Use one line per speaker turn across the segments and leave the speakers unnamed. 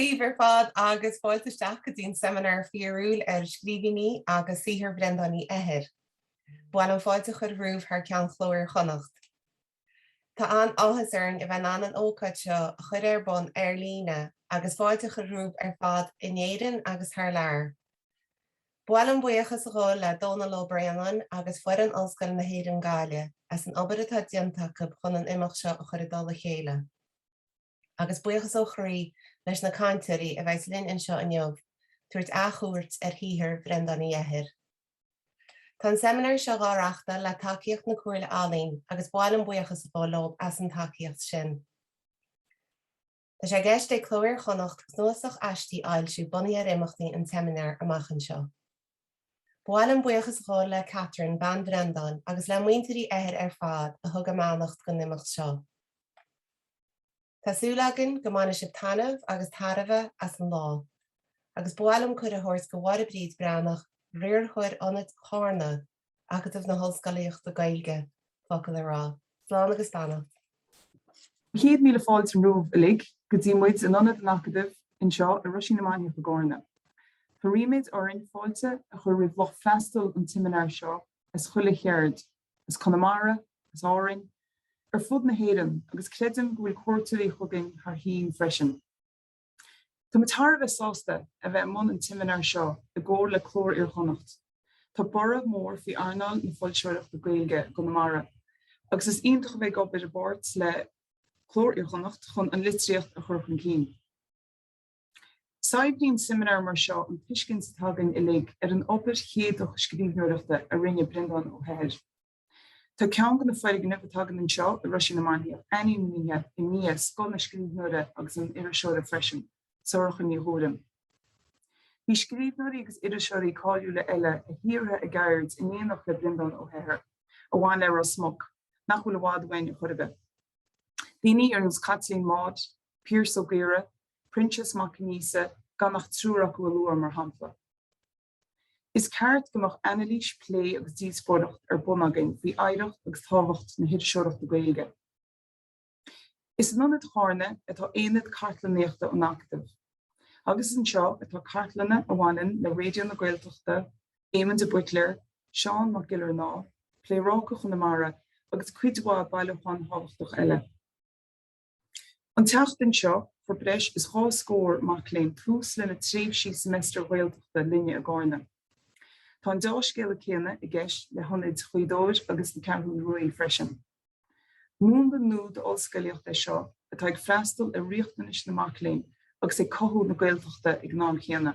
Daoibh ar fad agus fáilte isteach go dtí an seimineár fíorúil ar Scríbhinní agus Saothar Bhreandáin Uí Eithir. Ba mhaith liom fáilte a chur romhaibh thar ceann Chló Iar-Chonnacht. Tá an-áthas orainn a bheith in ann an ócáid seo a chur ar bun ar líne agus fáilte a chur romhaibh ar fad in Éirinn agus thar lear. Ba mhaith liom buíochas a ghabháil le Dónal Ó Braonáin agus foireann Ollscoil na hÉireann Gaillimh as an obair atá déanta acu chun an imeacht seo a chur i dtoll a chéile. agus buíochas ó chroí leis na cainteoirí a bheas linn anseo inniu ag tabhairt athchuairt ar shaothar Bhreandáin Uí Eithir. Tá an seimineár seo dhá reachtáil le tacaíocht na Comhairle Ealaíon agus ba mhaith liom buíochas a ghabháil leo as an tacaíocht sin. Tá sé i gceist ag Cló Iar-Chonnacht cnuasach aistí a fhoilsiú bunaithe ar imeachtaí an tseimineáir amach anseo. Ba mhaith liom buíochas a ghabháil le Catherine, bean Bhreandáin, agus le muintir Uí Eithir ar fad a thug a mbeannacht don imeacht seo. Tá súil againn go mbainfidh sibh taitneamh agus tairbhe as an lá, agus ba mhaith liom cuireadh a thabhairt do Mháire Bríd Breathnach, Riarthóir Ionad Charna, Acadamh na hOllscolaíochta Gaeilge, focal a rá. Slán agus
beannacht. Céad míle fáilte romhaibh uilig go dtí muid in Ionad an Acadaimh anseo i Roisín na Mainiach i gCarna. Tá ríméad orainn fáilte a chur roimh lucht freastail an tseimineáir seo as chuile cheard, as Conamara, as Árainn, ar fud na hÉireann agus creidim go bhfuil cuairteoirí chugainn thar toinn freisin. Tá muid thar a bheith sásta a bheith i mbun an tseimineáir seo i gcomhar le Cló Iar-Chonnacht. Tá borradh mór faoi earnáil na foilseoireachta Gaeilge i gConamara agus is iontach a bheith ag obair i bpáirt le Cló Iar-Chonnacht chun an litríocht a chur chun cinn. Saibhríonn seimineáir mar seo an tuiscint atá againn uilig ar an obair éachtach scríbhneoireachta a rinne Breandán Ó hEithir. Tá ceann de na foirgnimh atá againn anseo i Roisín na Mainiach ainmnithe i ndiaidh scoth an scríbhneora agus an iriseora freisin, Sorcha Ní Ghuairim. Bhí scríbhneoirí agus iriseoirí cáiliúla eile a shaothraigh an cheird in éineacht le Breandán Ó hEithir, a bhain le Ros Muc, nach bhfuil i bhfad uainn chor ar bith. Daoine ar nós Chaitlín Maude, Piaras Ó Gaora, Proinsias Mac Aonghusa, gan ach triúr acu a lua, mar shampla. Is ceart go mbeadh anailís, plé agus díospóireacht ar bun againn faoi oidhreacht agus tábhacht na hiriseoireachta Gaeilge. Is in Ionad Charna atá Aonad Cartlannaíochta an Acadaimh, agus is anseo atá cartlanna a bhaineann le Raidió na Gaeltachta, Éamon de Buitléar, Seán Mac Giollarnáth, Pléaráca Chonamara agus cuid mhaith bailiúchán tábhachtach eile. An tseachtain seo, fuair breis is dhá scór mac léinn tús lena tréimhsí seimeastar Ghaeltachta linne i gCarna. Tá an dea-scéala céanna i gceist le hionaid Ghaoth Dobhair agus na Ceathrún Rua freisin. Múnla nua den ollscolaíocht é seo atá ag freastal ar riachtanais na mac léinn agus ag cothú na Gaeltachta ag an am chéanna.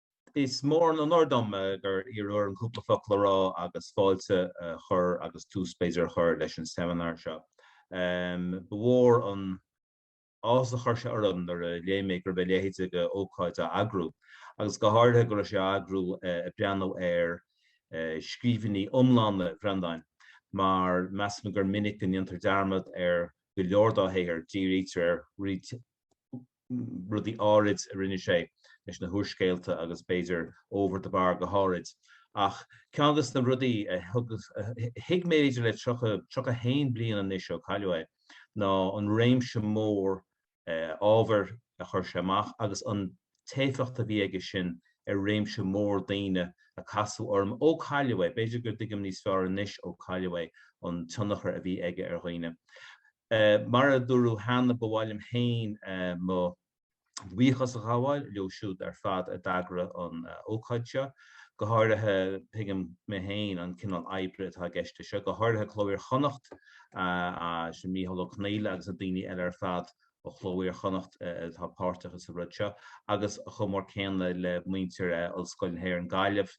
Is mór an onóir dom gur iarradh orm cúpla focal a rá agus fáilte a chur agus tús b'fhéidir a chur leis an seimineár seo. Ba mhór an t-áthas a chuir sé orm nuair a léigh mé go raibh a leithéid de ócáid á eagrú, agus go háirithe go raibh sé á eagrú ag breathnú ar scríbhinní iomlána Bhreandáin, mar measaim gur minic go ndéantar dearmad ar go leor dá shaothar, dírítear ar rudaí áirid a rinne sé leis na húrscéalta agus b'fhéidir Over the Bar go háirid. Ach ceann de na rudaí a thuig mé b'fhéidir le tríocha, tríocha a haon bliain anois ó cailleadh é, ná an réimse mór ábhair a chuir sé amach agus an t-éifeacht a bhí aige sin ar réimse mór daoine a casadh orm ó cailleadh é. B'fhéidir go dtuigim níos fearr anois ó cailleadh é an tionchar a bhí aige ar dhaoine. Mar a dúradh cheana, ba mhaith liom féin mo bhuíochas a ghabháil leo siúd ar fad a d'eagraigh an ócáid seo, go háirithe, tuigim mé féin an cineál oibre atá i gceist le seo, go háirithe Cló Iar Chonnacht, Micheál Ó Conghaile agus na daoine eile ar fad ó Chló Iar Chonnacht atá páirteach sa rud seo, agus chomh mór céanna le muintir Ollscoil na hÉireann Gaillimh,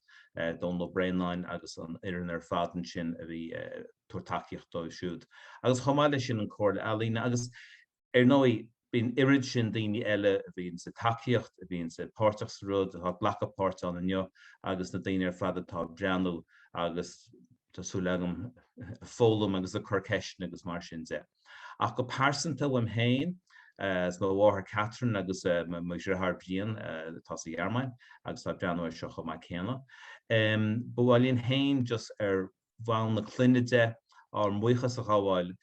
Dónall Ó Braonáin agus an fhoireann ar fad ansin a bhí. tabhairt tacaíocht dóibh siúd. Agus chomh maith leis sin an Comhairle Ealaíne agus ar ndóigh bíonn oiread sin daoine eile a bhíonn sa tacaíocht, a bhíonn sa páirteach sa rud, atá ag glacadh páirt ann inniu agus na daoine ar fad atá ag breathnú agus tá súil agam ag foghlaim agus ag cur ceisteanna agus mar sin de. Ach go pearsanta uaim féin agus mo mháthair Catherine agus mo dheartháir Brian atá sa Ghearmáin agus atá ag breathnú air seo chomh maith céanna. Ba mhaith linn féin just ar. bhonn na clainne de, ár mbuíochas a ghabháil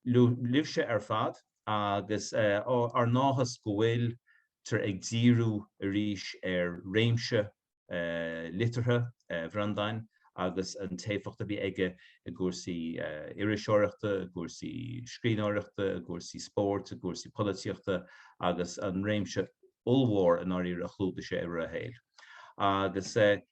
libhse ar fad agus ár n-áthas go bhfuiltear ag díriú arís ar réimse liteartha Bhreandáin agus an t-éifeacht a bhí aige i gcúrsaí iriseoireachta, i gcúrsaí scríbhneoireachta, i gcúrsaí spóirt, i gcúrsaí polaitíochta agus an réimse ollmhór i ndáiríre a chlúdaigh sé i rith a shaoil. Agus.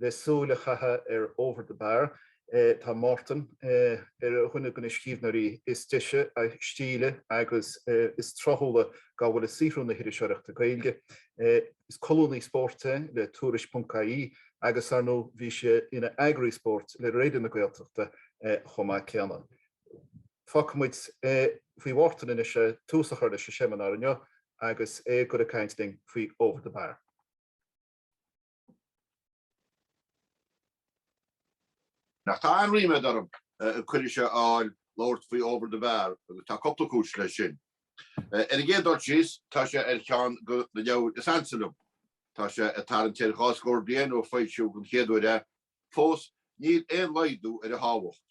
Le súil a chaitheamh ar Over the Bar, tá Mártan ar dhuine de na scríbhneoirí is deise, is stíle agus is tráthúla dá bhfuil i saothrú na hiriseoireachta Gaeilge. Is colúnaí spóirt é le Tuairisc.ie agus, ar ndóigh, bhí sé ina eagraí spóirt le Raidió na Gaeltachta chomh maith céanna. Fágfaidh muid é faoi Mhártan anois le tús a chur leis an seimineár inniu agus é ag goil ag caint linn faoi Over the Bar.
Ach tá an-ríméad orm ag cuireadh seo a fháil labhairt faoi Over the Bar agus tá cúpla cúis leis sin. Ar an gcéad dul síos, tá sé ar cheann de na leabhair is ansa liom. Tá sé ag tarraingt ar dhá scór bliain ó foilsíodh den chéad uair é Fós, níl aon laghdú ar a thábhacht,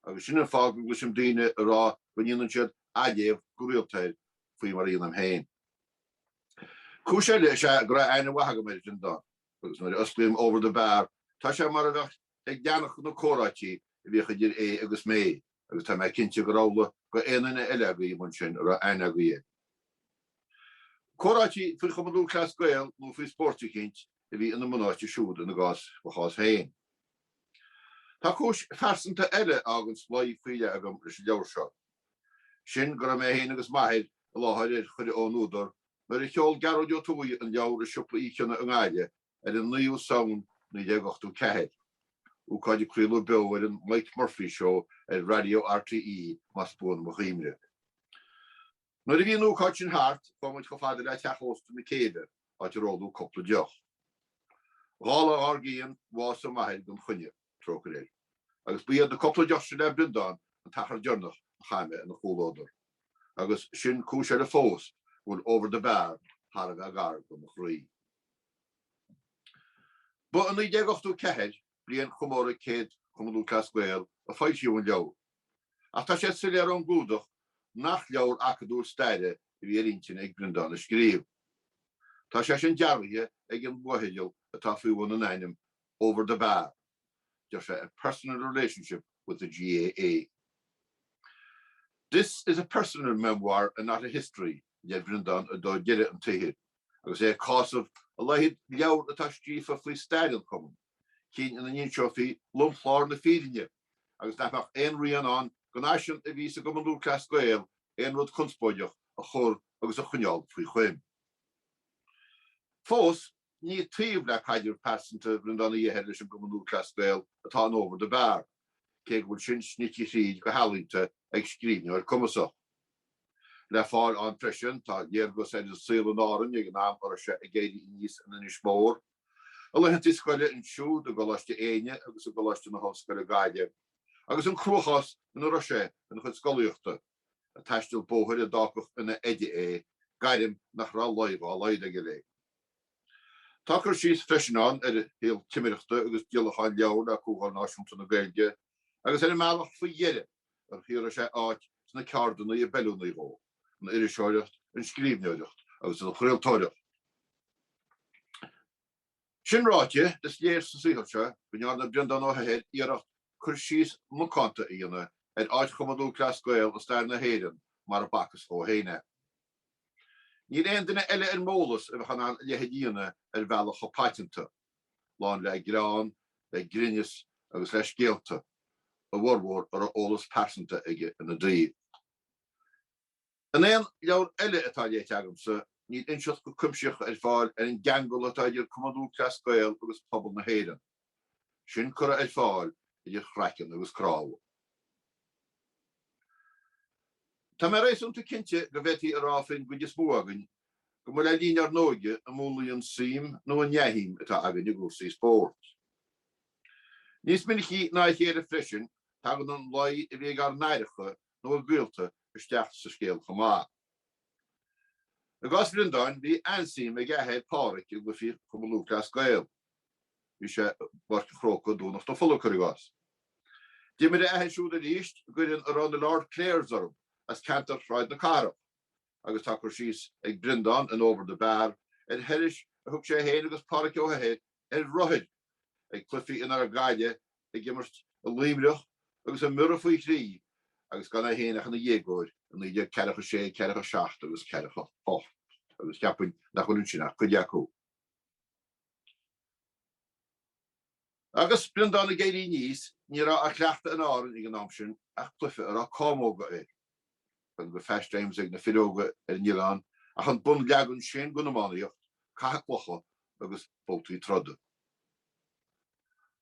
agus sin an fáth go gcloisim daoine ag rá go ndéanann siad athléamh go rialta air, faoi mar a dhéanaim féin. Cúis eile is ea go raibh aithne mhaith agam air, sin dó, agus nuair a osclaím Over the Bar, tá sé mar a bheadh ag éisteacht le comhráití a bhíodh idir é agus mé. agus tá mé cinnte gur amhlaidh d'aon duine eile agaibh ansin a raibh aithne agaibh air. Comhráití faoi Chumann Lúthchleas Gael nó faoi spóirt eicínt a bhí ina mbunáite siúd ina gcás, mo chás féin. Tá cúis phearsanta eile a fhágann slí faoi leith agam leis an leabhar seo. Sin go raibh mé féin agus m'athair i láthair ar chuireadh ón údar nuair a sheol Gearóid Ó Tuathaigh an leabhar i Siopa Uí Chionnaith i nGaillimh, ar an 9ú Samhain 1984. Ócáid a craoladh beo ar an Mike Murphy Show ar Raidió RTÉ, más buan mo chuimhne. Nuair a bhí an ócáid sin thart, chuaigh muid chomh fada le teach ósta na céibhe, áit ar óladh cúpla deoch. Dhá lá dár gcionn, bhásaigh m'athair gan choinne, trócaire air, agus ba iad na cúpla deoch sin le Breandán an t-achar deireanach a chaith mé ina chomhluadar. Agus sin cúis eile fós go bhfuil Over the Bar thar a bheith gar do mo chroí. Ba i 1984, bliain chomóradh céid Chumann Lúthchleas Gael, a foilsíodh an leabhar, ach tá sé soiléir ón gclúdach nach leabhar acadúil staire a bhí ar intinn ag Breandán a scríobh. Tá sé sin dearbhaithe ag an bhfotheideal atá faoi bhun an ainm Over the Bar, deir sé 'a personal relationship with the GAA'. This is a personal memoir and not a history, a deir Breandán i dtreo dheireadh an tsaothair. agus é ag cásamh a laghad leabhar atá scríofa faoi stair an Chumainn, cinn ina n-inseofaí lomchlár na fírinne, agus nach mbeadh aon rian ann den fhaisiún a bhí sa gCumann Lúthchleas Gael aon rud conspóideach a chur agus a choinneáil faoi choim. Fós, ní taobh le caidreamh pearsanta Bhreandáin Uí hEithir leis an gCumann Lúthchleas Gael atá in 'over the bar', cé go bhfuil sin snite thríd go healaíonta ag scríbhneoir cumasach. Le fáil ann freisin tá léargas ar an saol in Árainn ag an am a raibh sé ag éirí aníos in Inis Mór, a laethanta scoile ansiúd i gColáiste Éinne agus i gColáiste na hOllscoile Gaillimh, agus an cruachás ina raibh sé ina chuid scolaíochta, ag taisteal bóthair a d'fhágfadh ina oide é, gairm nach raibh luí dhá laghad aige léi. Tá cur síos freisin ann ar a shaol timireachta agus díolacháin leabhar le Comhdháil Náisiúnta na Gaeilge, agus ar an mbealach faoi dheireadh, ar shaothraigh sé áit sna ceardanna ab fheiliúnaí dhó, an iriseoireacht, an scríbhneoireacht agus an chraoltóireacht. Sin ráite, is léir sa saothar seo go ndearna Breandán Ó hEithir iarracht cur síos macánta a dhéanamh ar áit Chumann Lúthchleas Gael i stair na hÉireann mar a b'fhacthas dhó féin é. Níl aon duine eile ar m'eolas a bheadh in ann a leithéid a dhéanamh ar bhealach chomh paiteanta. lán le greann, le grinneas agus le scéalta, a bhformhór a raibh eolas pearsanta aige ina dtaobh. In aon leabhar eile atá léite agamsa, níl inseacht chomh cuimsitheach ar fáil ar an gceangal atá idir Cumann Lúthchleas Gael agus pobal na hÉireann. Sin curtha ar fáil idir chraiceann agus cnámha. Tá mé réasúnta cinnte go bhféadfaí a rá faoin gcuid is mó againn go mba le linn ár n-óige a múnlaíodh an suim nó an neamhshuim atá againn i gcúrsaí spóirt. Níos minicí ná a chéile freisin, tagann an luí a bhí ag ár n-aithreacha nó ag gaolta isteach sa scéal chomh maith. I gcás Bhreandáin, bhí an-suim ag a athair Pádhraic i gcluichí Chumann Lúthchleas Gael. Bhí sé i bPáirc an Chrócaigh, Domhnach na Fola, cuir i gcás. D'imir a athair siúd arís d'fhoireann a raibh na Lord Clares orthu, as ceantar Shráid na Cathrach. agus tá cur síos ag Breandán in Over the Bar ar thurais a thug sé féin agus Pádhraic Ó hEithir ar rothair ag cluifí ina raibh Gaillimh ag imirt i Luimneach agus i mBiorra faoi thrí agus gan é féin ach ina dhéagóir i naoi déag ceathracha sé, ceathracha seacht agus ceathracha hocht agus cheapfainn nach bhfuil ansin ach cuid acu. Agus Breandán ag éirí aníos, ní raibh á chleachtadh in Árainn ag an am sin ach cluife a raibh cámóga air. Gan de phastimes ag na fir óga ar an oileán, ach an bunleagan sin den iománaíocht, caitheamh clocha agus babhtaí troda.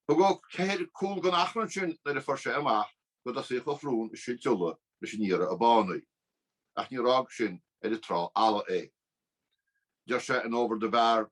Thug Ó hEithir cúl don achrann sin nuair a fuair sé amach go dtosaíodh a shrón ag silt fola leis an iarraidh ab fhánaí, ach níor fhág sin ar an trá fholamh é. Deir sé in Over the Bar.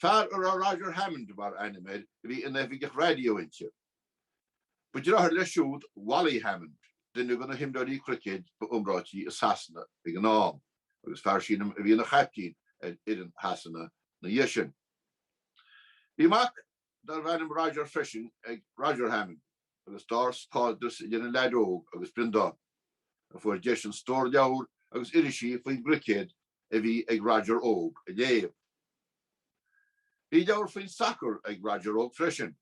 Fear a raibh Roger Hammond mar ainm air a bhí ina oifigeach raidió inti. Ba dheartháir leis siúd Wally Hammond, duine de na himreoirí cruicéid ba iomráití i Sasana ag an am, agus fear sílim a bhí ina chaiptín ar fhoireann Shasana ina dhiaidh sin. Bhí mac darbh ainm Roger freisin ag Roger Hammond agus d'fhás cairdeas idir an leaid óg agus Breandán, a fuair deis an stór leabhar agus irisí faoin gcruicéad a bhí ag Roger óg a léamh. Bhí leabhar faoin sacar ag Roger óg freisin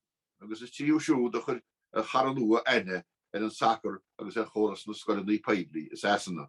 agus is tríothu siúd a chuir a chara nua aithne ar an sacar agus ar chóras na scoileanna poiblí i Sasana.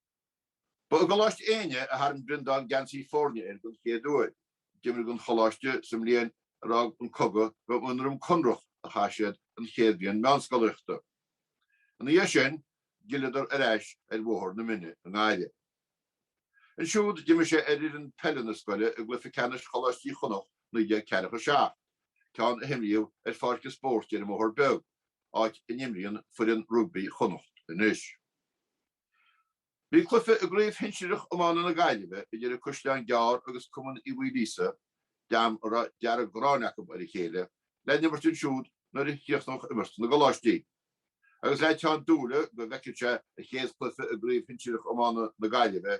Ba i gColáiste Éinne a tharraing Breandán geansaí foirne air den chéad uair. D'imir sé don choláiste sa mbliain tar éis an cogadh, ba i nDroim Conrach a chaith siad an chéad bhliain meánscolaíochta. Ina dhiaidh sin, d'fhilleadar ar ais ar Bhóthar na Trá i nGaillimh. Ansiúd, d'imir sé ar fhoireann peile na scoile i gcluiche ceannais Choláistí Chonnacht 1947, ceann a himríodh ar pháirc an spóirt ar an mBóthar Beag, áit a n-imríonn foireann rugbaí Chonnacht anois. Bhí cluiche i gCraobh Shinsearach Iomána na Gaillimhe idir An Caisleán Gearr agus Cumann Uí Mhaoilíosa, dream a raibh an dearg-ghráin acu ar a chéile le n-imirt ansiúd nuair a chríochnódh imirt na gcoláistí. Agus le teann dúile go bhfeicfeadh sé a chéad chluiche i gCraobh Shinsearach Iomána na Gaillimhe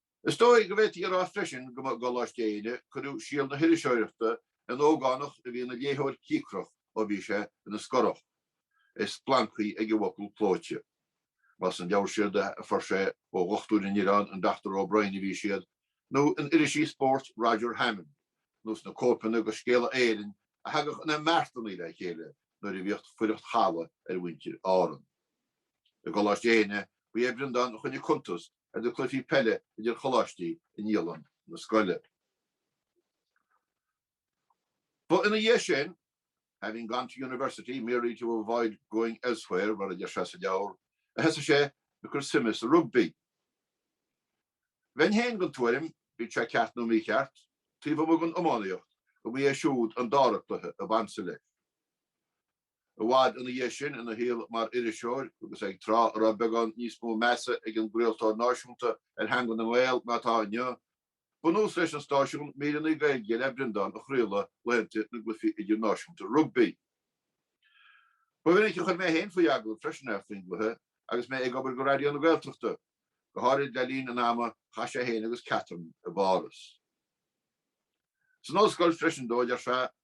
Is dóigh go bhféadfaí a rá freisin go mba i gColáiste Éinne cuireadh síol na hiriseoireachta in ógánach a bhí ina léitheoir cíocrach ó bhí sé ina scorach, é splancthaí ag an bhfocal clóite Más sna leabhair siúd a fuair sé ó dhochtúir an oileáin an Dr O'Brien a bhí siad, nó in irisí spóirt Roger Hammond, nó sna cóipeanna de Scéala Éireann a thagadh ina mbeartanna le chéile nuair a bhíodh fuireacht chalaidh ar mhuintir Árann. I gColáiste Éinne ba é Breandán a choinnigh cuntas ar na cluichí peile idir choláistí i ndialann na scoile. Ba ina dhiaidh sin, Having gone to university merely to avoid going elsewhere, mar a deir sé sa leabhar, a thosaigh sé ag cur suime sa rugbaí. Bheinn féin den tuairim, bíodh sé ceart nó mícheart, taobh amuigh den iománaíocht, go mba é siúd an dara cluiche ab ansa leis. I bhfad ina dhiaidh sin, ina shaol mar iriseoir, agus ag tráth a raibh beagán níos mó measa ag an gcraoltóir náisiúnta ar theanga na nGael ná atá inniu, ba nós leis an stáisiún míreanna Gaeilge le Breandán a chraoladh laethanta na gcluichí idirnáisiúnta rugbaí. Ba mhinic a chuir mé féin faoi agallamh freisin é faoin gcluiche agus mé ag obair do Raidió na Gaeltachta, go háirid le linn an ama a chaith sé féin agus Catherine i bPáras. San ollscoil freisin dó, a deir sé,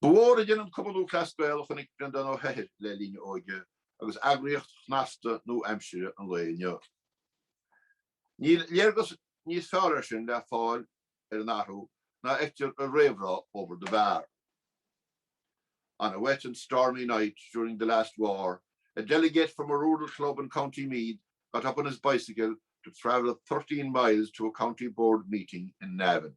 Ba mhór idir an Cumann Lúthchleas Gael a chonaic Breandán Ó hEithir le linn a óige agus eagraíocht shnasta nua-aimsire an lae inniu. Níl léargas níos fearr, ar ndóigh, le fáil ar an athrú ná a fheictear i réamhrá Over the Bar, On a wet and stormy night during the last war, a delegate from a rural club in County Meath got up on his bicycle to travel thirteen miles to a County Board meeting in Navan.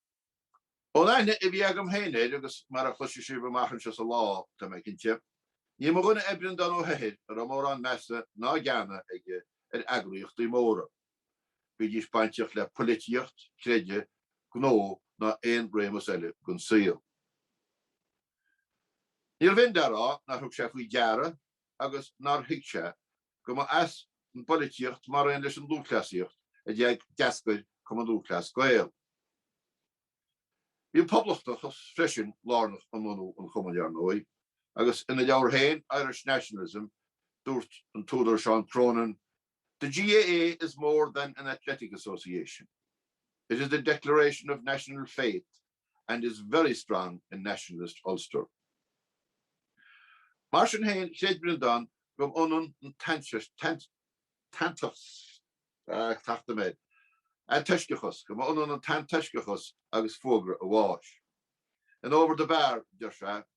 Ón aithne a bhí agam féin air, agus mar a chloisfidh sibh amach anseo sa lá, tá mé cinnte, ní mba dhuine é Breandán Ó hEithir a raibh mórán measa ná geana aige ar eagraíochtaí móra, bídís bainteach le polaitíocht, creideamh, gnó ná aon réimeas eile den saol. Níorbh in le rá nár thug sé faoi deara agus nár thuig sé go mba as an bpolaitíocht mar aon leis an lúthchleasaíocht a d'fhág d'eascair Cumann Lúthchleas Gael. Bhí an poblachtachas freisin lárnach i mbunú an chumainn ar ndóigh, agus ina leabhar féin, Irish Nationalism, dúirt an t-údar Seán Cronin, The GAA is more than an athletic association. It is a declaration of national faith and is very strong in nationalist Ulster. Mar sin féin, chreid Breandán go mba ionann an t-antoisceachas go mba ionann an t-antoisceachas agus fógra a bháis. In Over the Bar, a deir sé,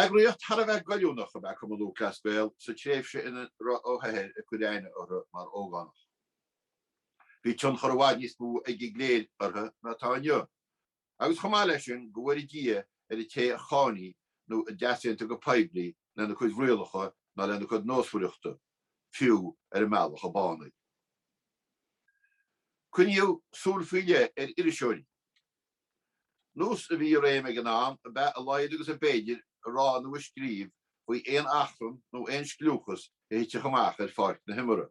Eagraíocht thar a bheith goilliúnach ab ea Cumann Lúthchleas Gael sa tréimhse ina raibh Ó hEithir ag cur aithne orthu mar ógánach. Bhí tionchar i bhfad níos mó ag an gcléir orthu ná atá inniu, agus chomh maith leis sin, go bhfóire Dia ar an té a cháinfeadh nó a d'easaontódh go poiblí lena cuid rialacha nó lena cuid nósmhaireachta, fiú ar an mbealach ab fhánaí. Coinníodh súil faoi leith ar iriseoirí. Nós a bhí i réim ag an am ab ea a laghad agus a b'fhéidir a rá nó a scríobh faoi aon achrann nó aon scliúchas a thitfeadh amach ar pháirc na himeartha,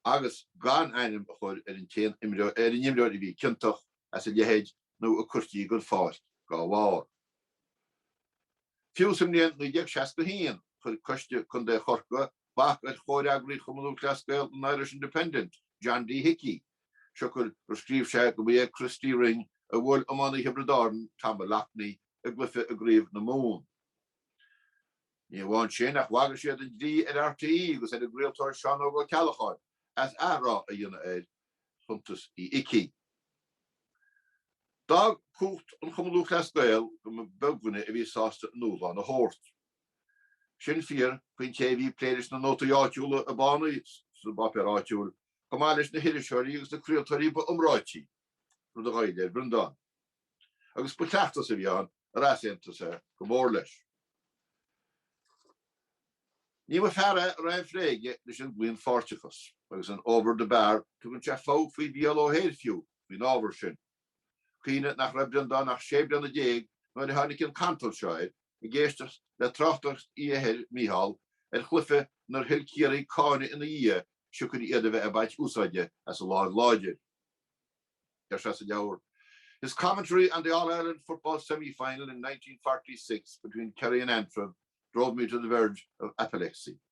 agus gan ainm a chur ar an imreoir a bhí ciontach as a leithéid nó a cuirtí den pháirc dá bharr. Fiú sa mbliain 1961, chuir Coiste Contae Chorcaí bac ar chomhfhreagraí Chumann Lúthchleas Gael an Irish Independent, John D Hickey, siocair gur scríobh sé go mba é Christy Ring a bhuail iománaí Thiobraid Árann, Tom Moloughney, i gcluiche i gCraobh na Mumhan. Ní amháin sin, ach bhagair siad an dlí ar RTÉ agus ar an gcraoltóir Seán Óg Ó Ceallacháin as athrá a dhéanamh ar chuntas Uí Icí. D'fhág cumhacht an Chumann Lúthchleas Gael go mba beag duine a bhí sásta a ndúshlán a thabhairt. Sin fíor faoin té a bhí ag plé leis na nótaí áitiúla ab fhánaí sa bpáipéar áitiúil, chomh maith leis na hiriseoirí agus na craoltóirí ba iomráití, rud a ghoill ar Bhreandán. Agus ba chleachtas a bhí ann ar easaontaigh sé go mór leis. Ní mba fear é a raibh aon phlé aige leis an gclaonpháirteachas, agus in Over the Bar tugann sé fogha faoi Mhícheál Ó hEithir fiú faoin ábhar sin. Cuimhnigh nach raibh Breandán ach sé bliana déag nuair a tháinig an cantal seo air, ag éisteacht le tráchtaireacht Uí Eithir, Micheál, ar chluiche inar thuill Ciarraí cáineadh ina dhiaidh siocair iad a bheith ag baint úsáide as an láimh láidir. Deir sé sa leabhar His commentary on the All-Ireland football semi-final in 1946 between Kerry and Antrim drove me to the verge of apoplexy.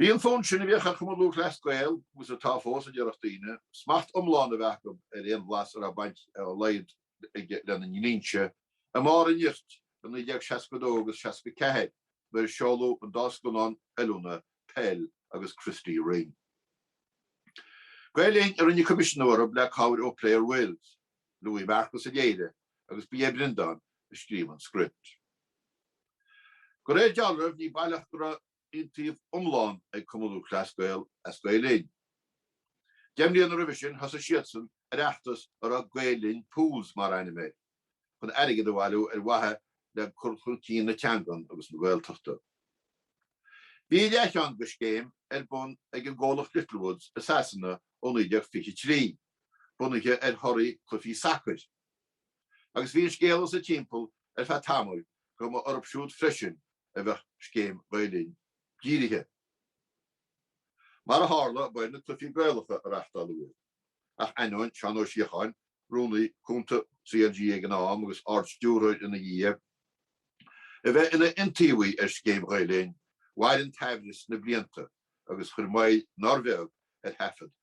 Bhí an fonn sin a bhíodh ar Chumann Lúthchleas Gael, agus atá fós, a déarfadh daoine, smacht iomlán a bheith acu ar aon bhlas a raibh baint dá laghad aige lena ndlínse, i mbarr a nirt i 1962 agus 64 nuair a seoladh an dá scannán oiliúna, Peil agus Christy Ring. Gael-Linn a rinne coimisiniú orthu le cabhair ó Player Wills, Louis Marcus a léirigh. agus ba é Breandán a scríobh an script. De réir dealraimh, ní baileach go raibh iontaoibh iomlán ag Cumann Lúthchleas Gael as Gael Linn. Deich mbliana roimhe sin thosaigh siadsan ar fheachtas a raibh Gael Linn Pools mar ainm air, chun airgead a bhailiú ar mhaithe le cur chun cinn na teangan agus na Gaeltachta. Bhí a leathcheann de scéim ar bun ag an gcomhlacht Littlewoods i Sasana ó 1923. bunaithe ar thorthaí cluichí sacair. Agus bhí an scéala sa timpeall ar feadh tamaill go mba orthu siúd freisin a bheadh scéim Ghael Linn dírithe. Mar a tharla, ba ar na cluichí Gaelacha a reachtáladh iad, ach ainneoin Seán Ó Síocháin, Rúnaí Cúnta CLG ag an am agus Ard-Stiúrthóir ina dhiaidh, a bheith ina iontaobhaí ar scéim Ghael Linn, mhair an t-aimhreas na blianta agus chuir moill nár bheag ar thaifead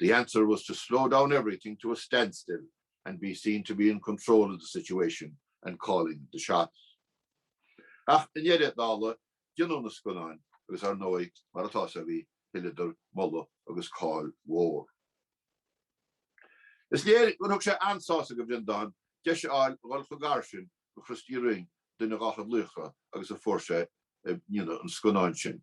The answer was to slow down everything to a standstill and be seen to be in control of the situation and calling the shots. Ach i ndeireadh na dála, déanadh na scannáin, agus ar ndóigh, mar atá a fhios agaibh, thuilleadar moladh agus cáil mhór. Is léir gur thug sé an-sásamh do Bhreandán deis a fháil a dhul chomh gar sin do Christy Ring, duine dá chuid laochra, agus a fuair sé i ndéanamh an scannáin sin.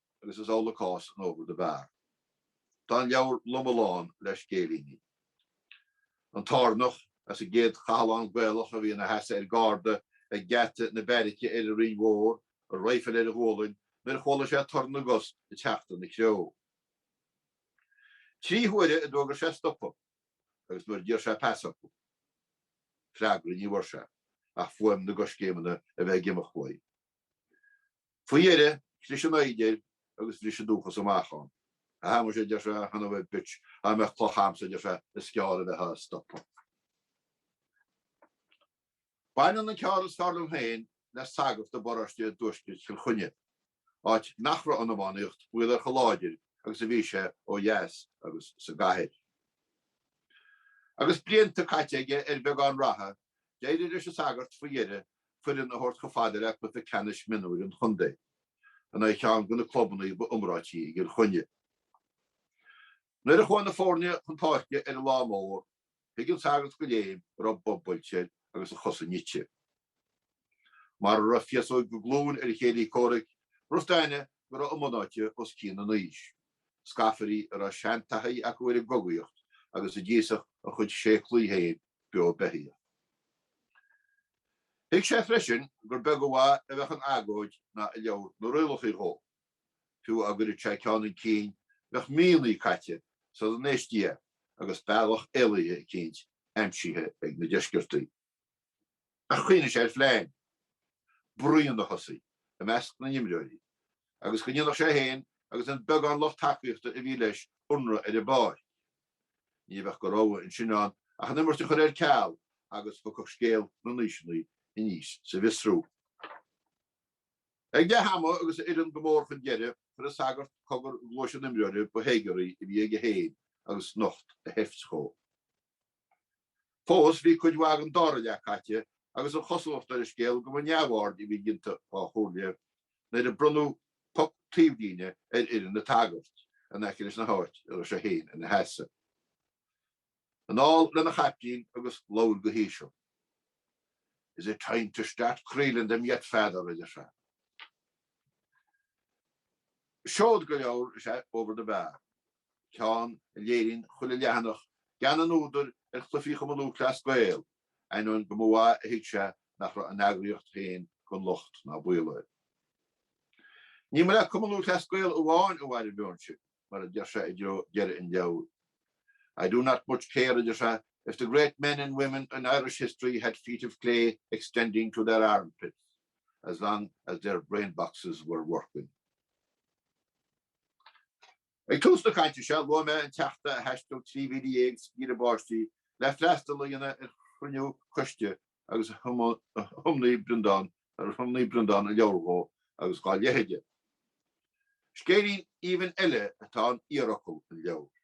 Agus is amhlaidh cás in Over the Bar. Tá an leabhar loma lán le scéilíní. An tÁrannach, as an gcéad chathlán Gaelach a bhí ina sheasamh ar garda ag geata na beairice ar an Rinn Mhór, a raidhfil ar a ghualainn, nuair a chuala sé torann na gcos ag teacht ina threo. Trí huaire a d'fhógair sé stopadh, agus nuair a d'iarr sé pas orthu, freagra ní bhfuair sé, ach fuaim na gcoiscéimeanna a bheith ag imeacht uaidh. Faoi dheireadh, chlis an fhoighid air agus bhris an dúchas amach ann. A Shéamais, a deir sé, a shon of a bitch, dá mbeadh cloch a'msa, a deir sé, is gearr a bheithfeá ag stopadh. Baineann an ceann is fearr liom féin le sagart i bparóiste i dTuaisceart Chill Chainnigh, áit nach raibh an iománaíocht baol air chomh láidir agus a bhí sé ó dheas agus sa gcathair. Agus blianta caite aige ar bheagán ratha, d'éirigh leis an sagart faoi dheireadh foireann a thabhairt chomh fada le cluiche ceannais mionúir an chontae, in aghaidh ceann de na clubanna ba iomráití i gCill Chainnigh. Nuair a chuaigh na foirne chun páirce ar an lá mór, thuig an sagart de léim go raibh bob buailte air agus a chosa nite. Mara raibh féasóig go glúin ar a chéilí comhraic, rud staine go raibh a mbunáite os cionn an aois, scafairí a raibh seantaithí acu ar an gcogaíocht agus a d'íosfadh a chuid séaclaí féin beo beithíoch. Thuig sé freisin gur beag an mhaith a bheadh in agóid ná i leabhar na rialacha dhó, fiú á gcuireadh sé ceann chun cinn bheadh míonna caite sul dá n-éistí é agus bealach éalaithe eicínt aimsithe ag na deisceartaí. Ach chuimhnigh sé ar phlean bruíon a thosaí i measc na n-imreoirí agus go ndéanfadh sé féin agus an beagán lucht tacaíochta a bhí leis ionradh ar an bpáirc. Ní bheadh de rogha ansin ann ach an imirt a chur ar ceal agus thiocfadh scéal na n-aoiseanna aníos sa bhfiosrú. Ag leath ama agus a fhoireann go mór chun deireadh, chuir an sagart cogar i gcluais an imreora ba théagarthaí a bhí aige féin agus nocht a sheift dhó. Fós, bhí cuid mhaith den dara leath caite agus an chosúlacht ar an scéal go mba neamhaird a bhí déanta dá chomhairle nuair a bronnadh poc taobhlíne ar fhoireann an tsagairt in aice leis an áit a raibh sé féin ina sheasamh. Anall lena chaiptín agus labhair go híseal. Is it time to start creeling them yet Father, a deir sé. Seoid de leabhar is ea Over the Bar. ceann a léiríonn chuile leathanach gean an údair ar chluifí Chumann Lúthchleas Gael, ainneoin go mba mhaith a thuig sé nach raibh an eagraíocht féin gan locht ná baol air. Ní mba le Cumann Lúthchleas Gael amháin a bhain an meon sin, mar a deir sé i dtreo deireadh an leabhair. I do not much care, a deir sé, if the great men and women in Irish history had feet of clay extending to their armpits, as long as their brainboxes were working. Ag tús na cainte seo, luaigh mé an Teachta a thaistil 13 mhíle sciath báistí le freastal a dhéanamh ar chruinniú coiste agus ar thiomnaigh Breandán a leabhar dhó agus dhá leithéide. Scéilín aoibhinn eile atá in Iarfhocal an leabhair.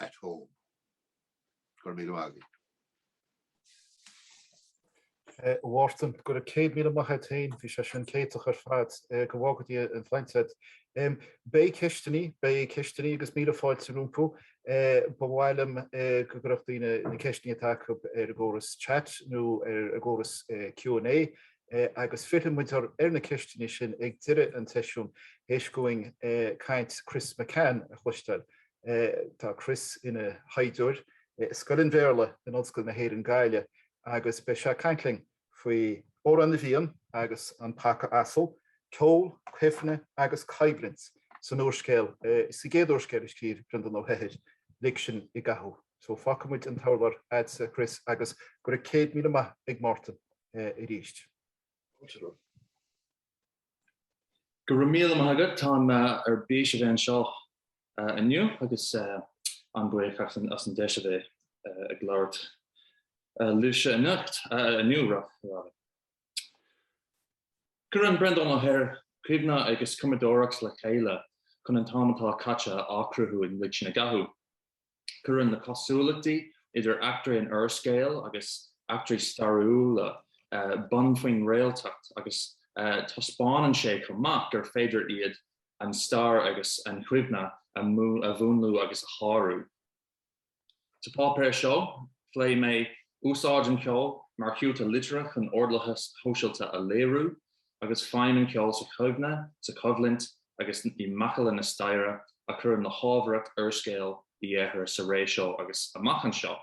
at home. Go raibh míle
maith agat, a Mhártain. Go raibh céad míle maith agat féin, bhí sé sin céatach ar fad. Go bhfága Dia an tsláinte a'd. Beidh ceisteannaí, beidh ceisteannaí agus míle fáilte rompu. Ba mhaith liom go gcuirfeadh daoine na ceisteannaí atá acu ar an gcóras chat nó ar an gcóras Q and A. agus fillfidh muid ar na ceisteanna sin ag deireadh an tseisiúin théis dúinn caint Chris McCann a chloisteáil. Tá Chris ina thaighdeoir i Scoil an Bhéarla in Ollscoil na hÉireann Gaillimh agus beidh sé ag caint linn faoi Amhrán na bhFiann agus An Poc ar Buile, ceol, cuimhne agus coimhlint san úrscéal, sa gcéad úrscéal a scríobh Breandán Ó hEithir, Lig Sinn i gCathú. So fágfaidh muid an t-urlár a'dsa Chris agus go raibh céad míle maith ag Máirtín.
arís. Go raibh míle maith agat, táim ar bís a bheith anseo inniu agus an-bhuíoch as an deis a bheith ag labhairt libhse anocht, inniu, rather. Cuireann Breandán Ó hEithir cuimhne agus cumadóireacht le chéile chun an t-am atá caite a athchruthú i Lig Sinn i gCathú. Cuireann na cosúlachtaí idir eachtraí an úrscéil agus eachtraí stairiúla bonn faoin réaltacht agus taispeánann sé chomh maith gur féidir iad, an stair agus an chuimhne, a mhúnlú agus a shárú. Sa pháipéar seo, pléifidh mé úsáid an cheoil mar chiúta liteartha chun ordlathas shóisialta a léiriú. agus feidhm an ceol sa chuimhne, sa choimhlint agus i macalla na staire a chuireann le hábharthacht úrscéal Uí Eithir sa ré seo agus amach anseo.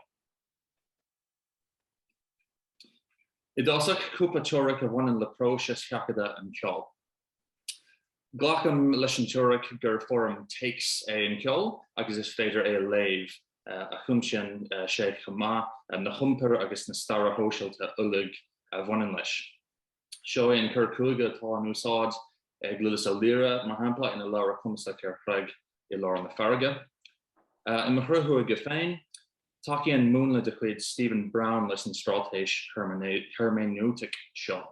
I dtosach, cúpla teoiric a bhaineann le próiseas sheachadadh an cheoil. Glacaim leis an teoiric gur foirm téacs é an ceol agus is féidir é a léamh, agus cuimsíonn sé chomh maith na hiompair agus na staire shóisialta uilig a bhaineann leis. Seo é an cur chuige atá in úsáid ag Lillis Ó Laoire, mar shampla, ina leabhar cumasach ar chreig i lár na farraige. I mo chur chuige féin, tacaíonn múnla de chuid Stephen Brown leis an straitéis heirméineotaic seo.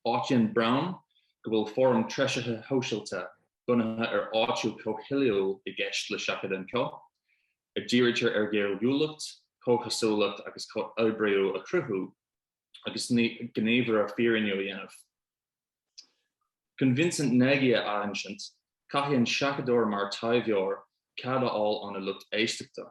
Áitíonn Brown go bhfuil foirm treisithe shóisialta bunaithe ar áitiú comhthoiliúil i gceist le seachadadh an cheoil, a dhírítear ar ghéilliúlacht, comhchosúlacht agus comhoibríú a chruthú. agus gníomhartha fírinniú a dhéanamh. Chun Vincent Nagy a athinsint, caithfidh an seachadóir mar taibheoir cead a fháil óna lucht éisteachta.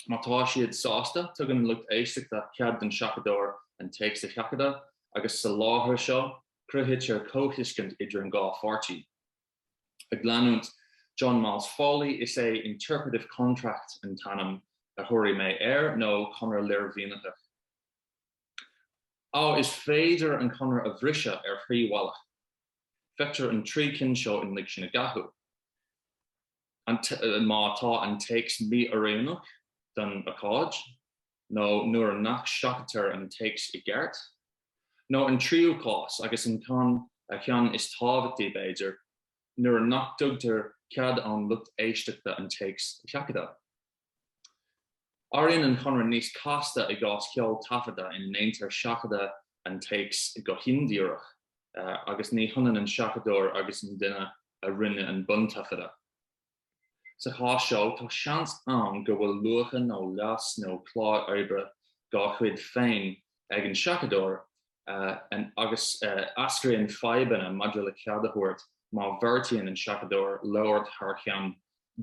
Má tá siad sásta, tugann an lucht éisteachta cead don seachadóir an téacs a sheachadadh agus sa láthair seo, cruthaítear comhthuiscint idir an dhá pháirtí. Ag leanúint John Miles Foley, is é interpretive contract an t-ainm a thabharfaidh mé air, nó conradh léirmhínitheach. Á, is féidir an conradh a bhriseadh ar thrí bhealach. Feictear an trí cinn seo in Lig Sinn i gCathú. Má tá an téacs mí-oiriúnach don ócáid, nó nuair nach seachadtar an téacs i gceart, nó an tríú cás, agus an ceann is tábhachtaí b'fhéidir, nuair nach dtugtar cead ón lucht éisteachta an téacs a sheachadadh. Éiríonn an conradh níos casta i gcás ceol taifeadta ina ndéantar seachadadh an téacs go hindíreach agus ní hionann an seachadóir agus an duine a rinne an buntaifeadadh. Sa chás seo, tá seans ann go bhfuil luacha nó leas nó clár oibre dá chuid féin ag an seachadóir agus eascraíonn fadhbanna maidir le cead a thabhairt má bheartaíonn an seachadóir labhairt thar cheann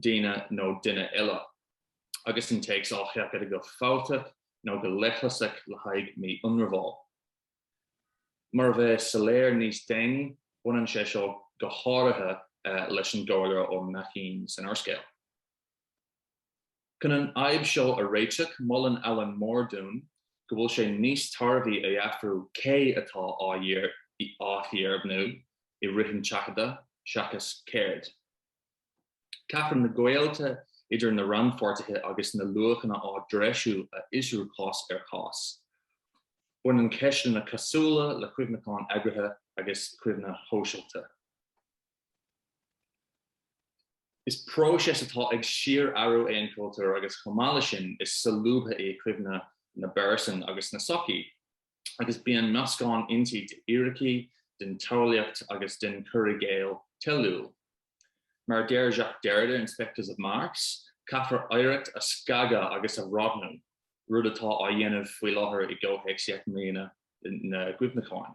daoine nó duine eile, agus an téacs á sheachadadh go fealltach nó go leithleasach le haghaidh mí-ionramháil. Mar a bheidh soiléir níos déanaí, baineann sé seo go háirithe leis an gcomhairleoir Ó Maicín san úrscéal. Chun an fhadhb seo a réiteach, molann Allan Moore dúinn go bhfuil sé níos tairbhí a fhiafrú cé atá á fhíordheimhniú i rith an tseachadta seachas céard. Caithfear na gaolta idir na rannpháirtithe agus na luachanna á dtreisiú a fhiosrú cás ar chás. Baineann ceisteanna cosúla le cuimhneachán eagraithe agus cuimhne shóisialta. Is próiseas atá ag síor-athrú é an cultúr agus chomh maith leis sin is solúbtha í cuimhne na bpearsan agus na sochaí agus bíonn meascán inti d'fhíricí, den tsamhlaíocht agus den chur i gcéill toiliúil. Mar a deir Jacques Derrida in Spectres of Marx, caithfear oidhreacht a scagadh agus a roghnú, rud atá á dhéanamh faoi láthair i gcomhthéacs Dheich mBliana na gCuimhneachán.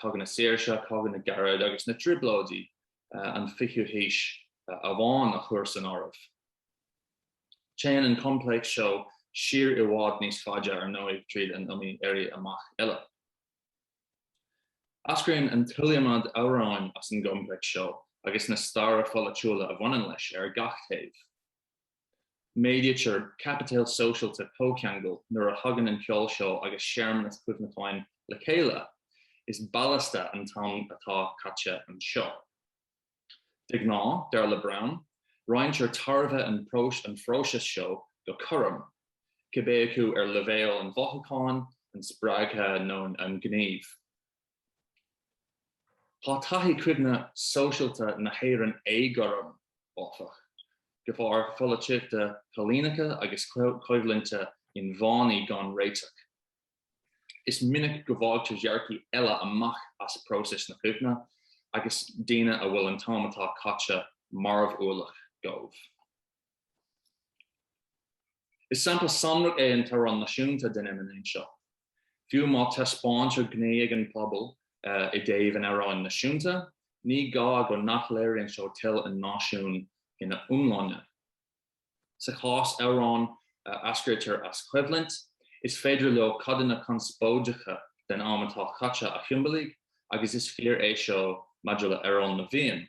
Cogadh na Saoirse, Cogadh na gCarad agus na Trioblóidí an fichiú haois amháin a chur san áireamh. Téann an coimpléacs seo siar i bhfad níos faide, ar ndóigh, tríd an iomaí éirí amach eile. Eascraíonn an t-iliomad amhráin as an gcoimpléacs seo agus na startha pholaitiúla a bhaineann leis ar gach taobh. Méadaítear caipiteal sóisialta comhcheangail nuair a thagann an ceol seó agus searmanas cuimhneacháin le chéile. Is ballasta an t-am atá caite anseo. De ghnáth, dar le Brown, roinntear tairbhe an phróisis seo go cothrom, cibé acu ar leibhéal an mhothúcháin, an spreagtha nó an ghnímh. Tá taithí cuimhne sóisialta na hÉireann éagothrom, áfach, de bharr pholaitíochta coilíneacha agus coimhlinte inmheánaí gan réiteach. Is minic go bhfágtar dearcaidh eile amach as próisis na cuimhne agus daoine a bhfuil an t-am atá caite marbhualach dóibh. Is sampla sonrach é an t-amhrán náisiúnta den fheiniméan seo. Fiú má taispeáintear gnaoi ag an bpobal i dtaobh an amhráin náisiúnta, ní gá go nach léiríonn seo toil an náisiúin ina iomláine. Sa chás amhrán a eascraítear as coimhlint, is féidir leo codanna conspóideacha den am atá caite a shiombalaigh agus is fíor é seo maidir le 'Amhrán na bhFiann',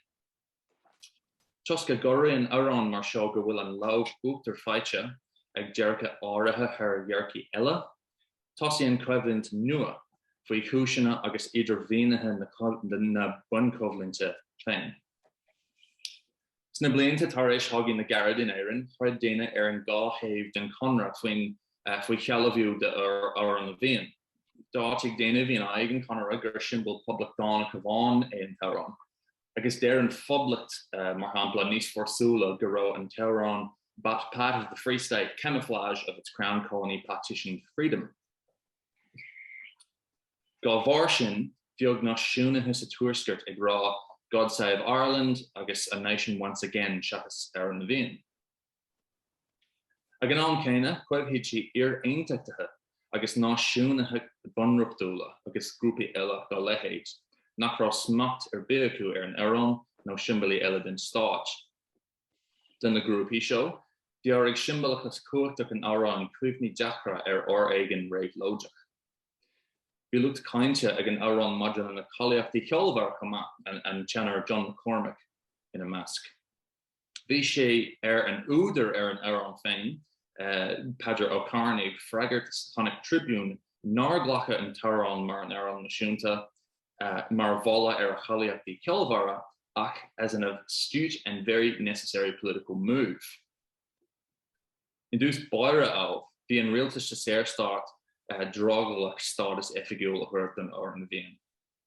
Toisc go gcomharthaíonn amhráin mar seo go bhfuil an lámh uachtair faighte ag dearcaidh áirithe thar dhearcaidh eile, tosaíonn coimhlint nua faoi chúiseanna agus idirmhínithe na bunchoimhlinte féin. Sna blianta tar éis Chogadh na gCarad in Éirinn, throid daoine ar an dhá thaobh den chonradh faoi shealbhú d'Amhrán na bhFiann. D'áitigh daoine a bhí in aghaidh an chonartha gur siombal poblachtánach amháin é an t-amhrán, agus deir an Phoblacht, mar shampla, níos fórsúla go raibh an t-amhrán 'but part of the Free State, camouflage of its Crown Colony partitioned freedom'. Dá bharr sin, bheadh náisiúnaithe sa Tuaisceart ag rá 'God save Ireland' agus 'a nation once again' seachas 'Amhrán na bhFiann'. Ag an am céanna, cuirfidh sí iar-aontachtaithe agus náisiúnaithe bunreachtúla agus grúpaí eile dá leithéid, nach raibh smacht ar bith acu ar an amhrán nó siombailí eile den stáit. Do na grúpaí seo, bhéarfadh siombalachas cumhachtach an amhráin cuimhní deacra ar fhoréigean réabhlóideach. Bhí lucht cáinte ag an amhrán maidir lena cáilíochtaí cheolmhara chomh maith, an teanór John McCormack ina measc. Bhí sé ar an údar ar an amhrán féin, Peadar Ó Cearnaigh, freagairt sa Connacht Tribune nár glacadh an t-amhrán mar an amhrán náisiúnta mar mholadh ar a cháilíochtaí ceolmhara ach as an astute and very necessary political move. I dtús báire, ámh, bhí an rialtas sa Saorstát drogallach stádas oifigiúil a thabhairt don Amhrán na bhFiann.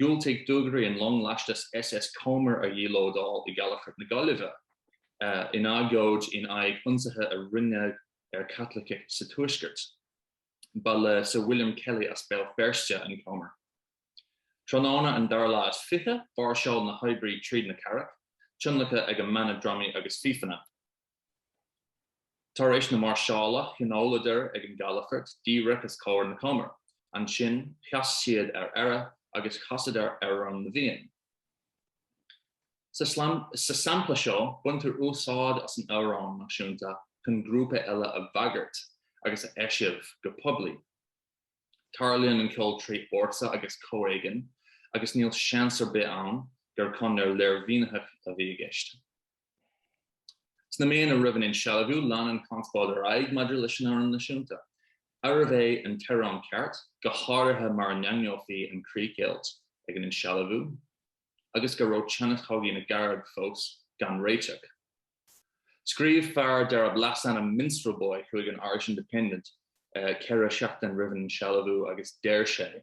Dhiúltaigh dugairí an long lastais SS Comber a dhílódáil i gCalafort na Gaillimhe, in agóid in aghaidh ionsaithe a rinneadh ar Chaitlicigh sa Tuaisceart. Ba le Sir William Kelly as Béal Feirste an Comber. Tráthnóna an dara lá is fiche, mháirseáil na hoibrithe tríd na cathrach, tionlactha ag a mbanna drumaí agus fífeanna. Tar éis na máirseála, thionóladar ag an gcalafort díreach os comhair na Comber. Ansin sheas siad ar aire agus chasadar Amhrán na bhFiann. Sa sampla seo, baintear úsáid as an amhrán náisiúnta chun grúpa eile a bhagairt agus a eisiamh go poiblí. Tarlaíonn an ceol trí fhórsa agus comhéigean, agus níl seans ar bith ann gur conair léirmhínitheach a bhí i gceist. Sna míonna roimh an insealbhú, lean an chonspóid ar aghaidh maidir leis an amhrán náisiúnta. Arbh é an t-amhrán ceart, go háirithe mar a ndaingneofaí an chríochdheighilt ag an insealbhú, agus go raibh teannas Chogadh na gCarad fós gan réiteach. Scríobh fear darb leasainm Minstrel Boy chuig an Irish Independent ceithre sheachtain roimh an insealbhú agus deir sé.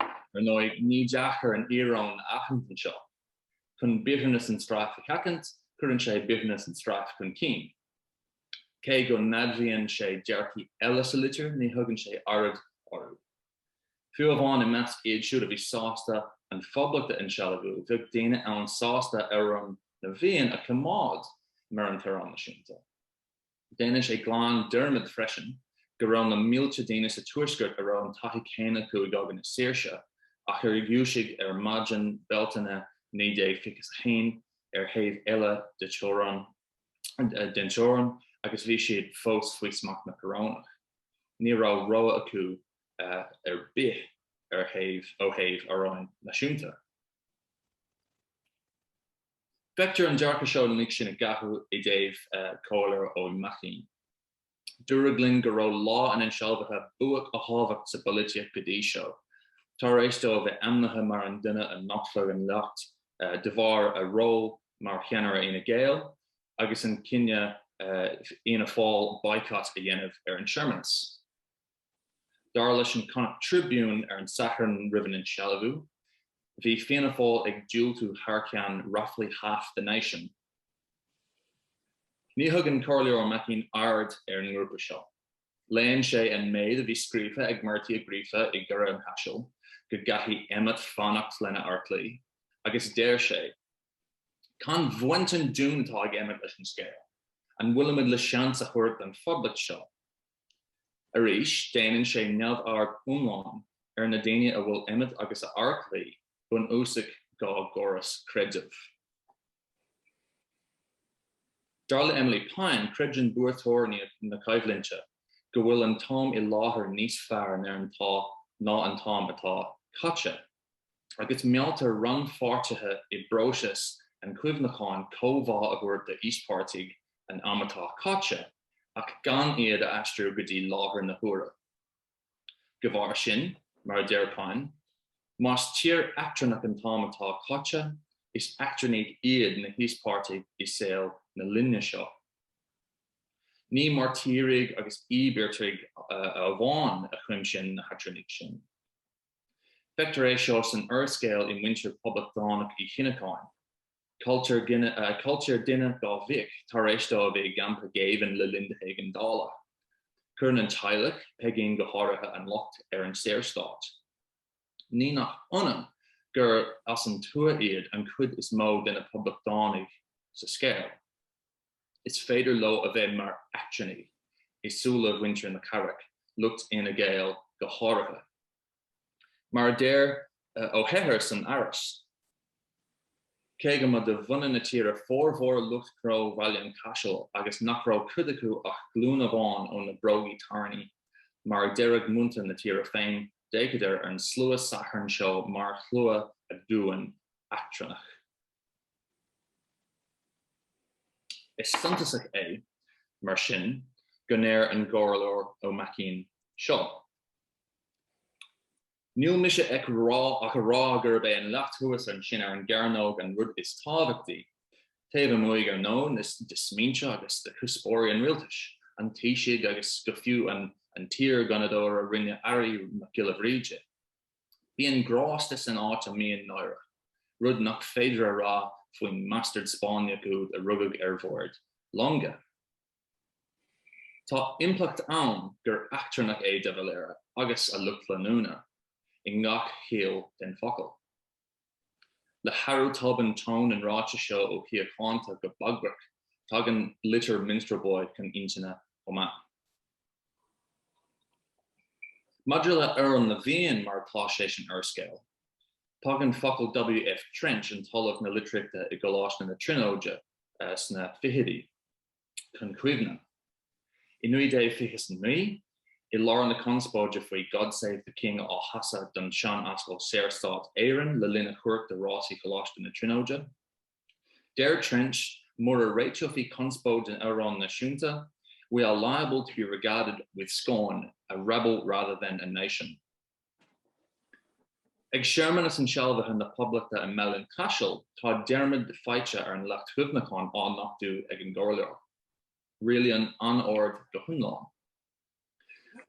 Ar ndóigh, ní deacair an íoróin a aithint anseo. Chun bitterness and strife a sheachaint, cuireann sé bitterness and strife chun cinn. Cé go n-admhaíonn sé dearcthaí eile sa litir, ní thugann sé aird orthu. Fiú amháin i measc iad siúd a bhí sásta an Phoblacht a insealbhú, bheadh daoine ann sásta Amhrán na bhFiann a choimeád mar an t-amhrán náisiúnta. Déanann sé glan dearmad freisin go raibh na mílte daoine sa Tuaisceart a raibh an taithí céanna acu i gCogadh na Saoirse ach ar dhúisigh ar maidin Bealtaine 1921 ar thaobh eile den teorainn agus bhí siad fós faoi smacht na Corónach. Ní raibh rogha acu ar bith ó thaobh amhráin náisiúnta. Feictear an dearcadh seo ná lig sinn i gcathú i dtaobh Comhairleoir Ó Maicín. Dúradh linn go raibh lá an insealbhaithe buaic a thábhacht sa bpolaitíocht go dtí seo, tár éis dó a bheith ainmnithe mar an duine a nochtfadh an leacht de bharr a ról mar cheannaire Fhine Gael agus an cinneadh Fhianna Fáil baghcat a dhéanamh ar an searmanas. Dar leis an Connacht Tribune ar an Satharn roimh an insealbhú, bhí Fianna Fáil ag diúltú thar ceann roughly half the nation. Ní thugann Comhairleoir Ó Maicín aird ar an ngrúpa seo. Léann sé an méid a bhí scríofa ag Murty Ó Gríofa i gCora an Chaisil, go gcaithfidh Emmet fanacht lena fheartlaoi, agus deir sé, Cén bhaint ar domhan atá ag Emmet leis an scéal? An bhfuilimid le seans a thabhairt don Phoblacht seo? Arís, déanann sé neamhaird iomlán ar na daoine a bhfuil Emmet agus a fheartlaoi bunúsach dá gcóras creidimh. Dar le Emily Pine, creideann buaiteoirí na coimhlinte go bhfuil an t-am i láthair níos fearr ná an t-am atá caite. agus mealltar rannpháirtithe i bpróiseas an chuimhneacháin comhbhá a thabhairt d'íospartaigh an am atá caite ach gan iad a aistriú go dtí láthair na huaire. De bharr sin, mar a deir Pine, más tír eachtrannach an t-am atá caite, is eachtrannaigh iad na híospartaigh i saol na linne seo. Ní mairtírigh agus íobartaigh amháin a chuimsíonn na heachtrannaigh sin. Feictear é seo san úrscéal i muintir Poblachtánach Uí Shíneacháin. Cailltear duine dá mhic tar éis dó a bheith i gcampa géibhinn le linn na hÉigeandála. Cuireann an teaghlach, Peigín go háirithe, an locht ar an Saorstát. Ní nach ionadh gur as an tuath iad an chuid is mó de na Poblachtánaigh sa scéal. is féidir leo a bheith mar eachtrannaigh i súile mhuintir na cathrach, lucht Fhine Gael go háirithe. Mar a deir Ó hEithir san aithris, Cé go mba de bhunadh na tíre formhór lucht gnó Bhaile an Chaisil agus nach raibh cuid acu ach glúin amháin ó na brógaí tairní, mar a deireadh muintir na tíre féin, d'fhéachadar ar an slua Sathairn seo mar shlua aduain eachtrannach. Is suntasach é, mar sin, go ndeir an gComhairleoir Ó Maicín seo, Níl mise ach a rá gurb é an leacht thuas ansin ar an gcearnóg an rud is tábhachtaí, taobh amuigh, ar ndóigh, de smaointe agus de chuspóirí an Rialtais, an Taoisigh agus go fiú an t-iar-Ghunnadóir a rinne Airí, Mac Giolla Bhríde. Bíonn grásta san áit a mbíonn náire, rud nach féidir a rá faoin mbastard Spáinneach úd a rugadh ar bhord longa. Tá impleacht ann gur eachtrannach é de Valera, agus a lucht leanúna, i ngach chiall den focal. Le hathrú tobann ton an ráitis seo ó shíochánta go bagrach, tagann litir Minstrel Boy chun intinne chomh maith. Maidir le Amhrán na bhFiann mar atá sé san úrscéal, tagann focail W.F. Trench, an tOllamh na Litríochta i gColáiste na Tríonóide sna fichidí, chun cuimhne. I 1929, i lár na conspóide faoi God Save the King á chasadh don Seanascal Saorstát Éireann le linn a chuairt de rásaí Choláiste na Tríonóide, deir Trench mura réiteofaí conspóid an amhráin náisiúnta, we are liable to be regarded with scorn, a rabble rather than a nation. Ag searmanas insealbhaithe na Poblachta i mBaile an Chaisil, tá dearmad faighte ar an Leacht Chuimhneacháin á nochtú ag an gComhairleoir. Rialaíonn anord go hiomlán.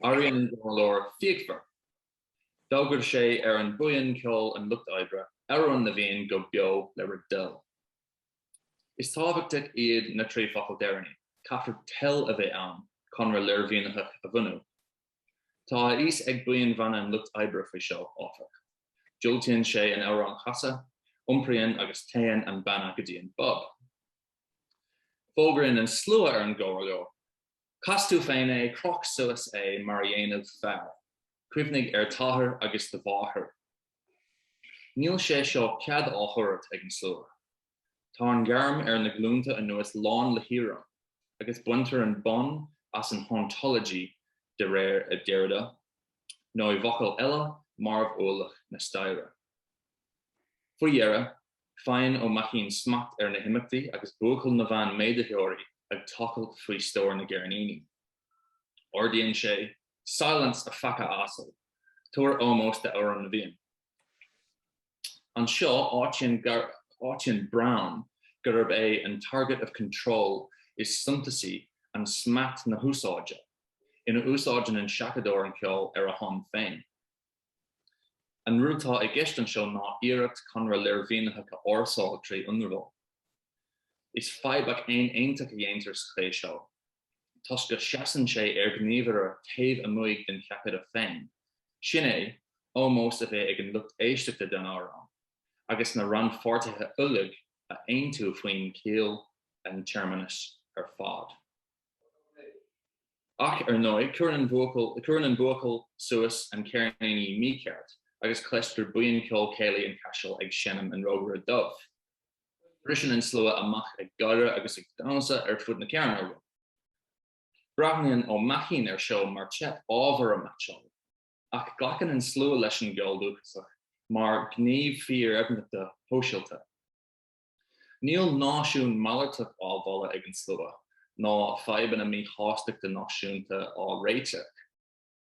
Éiríonn an Comhairleoir fíochmhar. D'fhógair sé ar an bhuíon ceoil an Lucht Oibre, Amhrán na bhFiann go beo le bhur dtoil. Is tábhachtach iad na trí focal deireanaí, caithfear toil a bheith ann, Conradh Léirmhínitheach a bhunú. Tá a fhios ag buíon bhanna an lucht oibre faoi seo, áfach. Diúltaíonn sé an amhrán a chasadh, iompraíonn agus téann an banna go dtí an bpub. Fógraíonn an slua ar an gcomhairleoir, Cas tú féin é, croch suas é mar a dhéanfadh fear. Cuimhnigh ar t'athair agus do mháthair. Níl sé seo cead á thabhairt ag an slua. Tá an ghairm ar na glúnta anuas lán le híoróin, agus baintear an bonn as an hauntology, de réir Derrida, nó i bhfocail eile, marbh-ualach na staire. Faoi dheireadh, faigheann Ó Maicín smacht ar na himeachtaí agus buachaill na veain méadaitheoirí ag tochailt faoi stór na gceirníní. Ordaíonn sé, Silence, a phaca asal! Tabhair ómós d'amhrán na bhFiann. Anseo, áitíonn Brown gurb é an target of control is suntasaí an smacht na húsáide ina úsáideann an seachadóir an ceol ar a shon féin. An rud atá i gceist anseo ná iarracht conradh léirmhínitheach a fhórsáil trí ionramháil. Is fadhbach aon aontacht a dhéantar sa chaoi seo. toisc go seasann sé ar ghníomhaire taobh amuig den cheapadóir féin, sin é, ómós a bheith ag an lucht éisteachta don amhrán, agus na rannpháirtithe uilig a aontú faoin chiall an tsearmanas ar fad. Ach ar ndóigh, cuireann an buachaill suas an ceirníní mícheart, agus cloistear buíon ceol céilí an Caiseal ag seinm An Rógaire Dubh. briseann an slua amach ag gáire agus ag damhsa ar fud na cearnóige. Breathnaíonn Ó Maicín ar seo mar teip ábhair a meaitseáil, ach glacann an slua leis an gceol dúchasach mar ghníomh fíordheimhneachta shóisialta. Níl náisiún malartach á mholadh ag an slua, ná fadhbanna míshástachta náisiúnta á réiteach.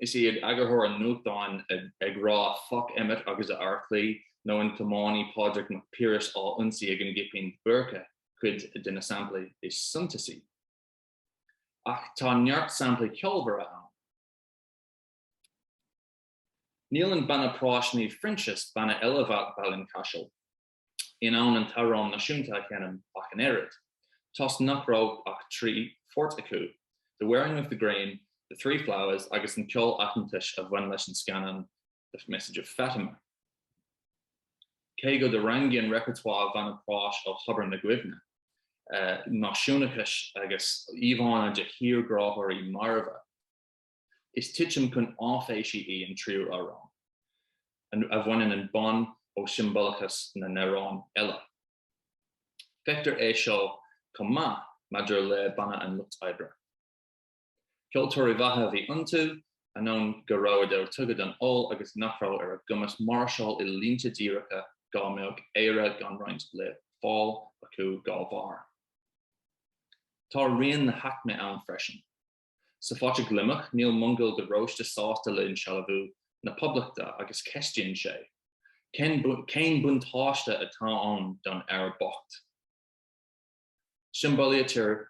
Is iad eagarthóir an nuachtáin ag rá 'Foc Emmet agus a fheartlaoi' nó an tiománaí Pádraic Mac Piarais á ionsaí ag an gCipín Búrca cuid de na samplaí is suntasaí. Ach tá neart samplaí ceolmhara ann. Níl an banna práis Naomh Phroinsias, banna eile Bhaile an Chaisil, in ann an t-amhrán náisiúnta a sheinm ach an oiread, toisc nach raibh ach trí phort acu, The Wearing of the Green, The Three Flowers agus an ceol aitheantais a bhain leis an scannán The Message of Fatima. Cé go dtarraingíonn repertoire Bhanna Práis ó thobar na gcuimhne náisiúnachais agus íomhánna de thírghráthóirí marbha, Is titim chun áiféisí í an tríú amhrán, a bhaineann an bonn ó siombalachas na n-amhrán eile. Feictear é seo chomh maith maidir le Banna an Lucht Oibre. Ceoltóirí mhaithe a bhí iontu, ainneoin go rabhadar tugtha don ól agus nach raibh ar a gcumas máirseáil i línte díreacha dhá mbeadh Éire gan roinnt le fáil acu dhá bharr. Tá rian na haicme ann freisin. Sa Phota Gliomach, níl Mongol de Róiste sásta le insealbhú na Poblachta agus ceistíonn sé, Cén buntáiste atá ann don fhear bocht? Siombalaítear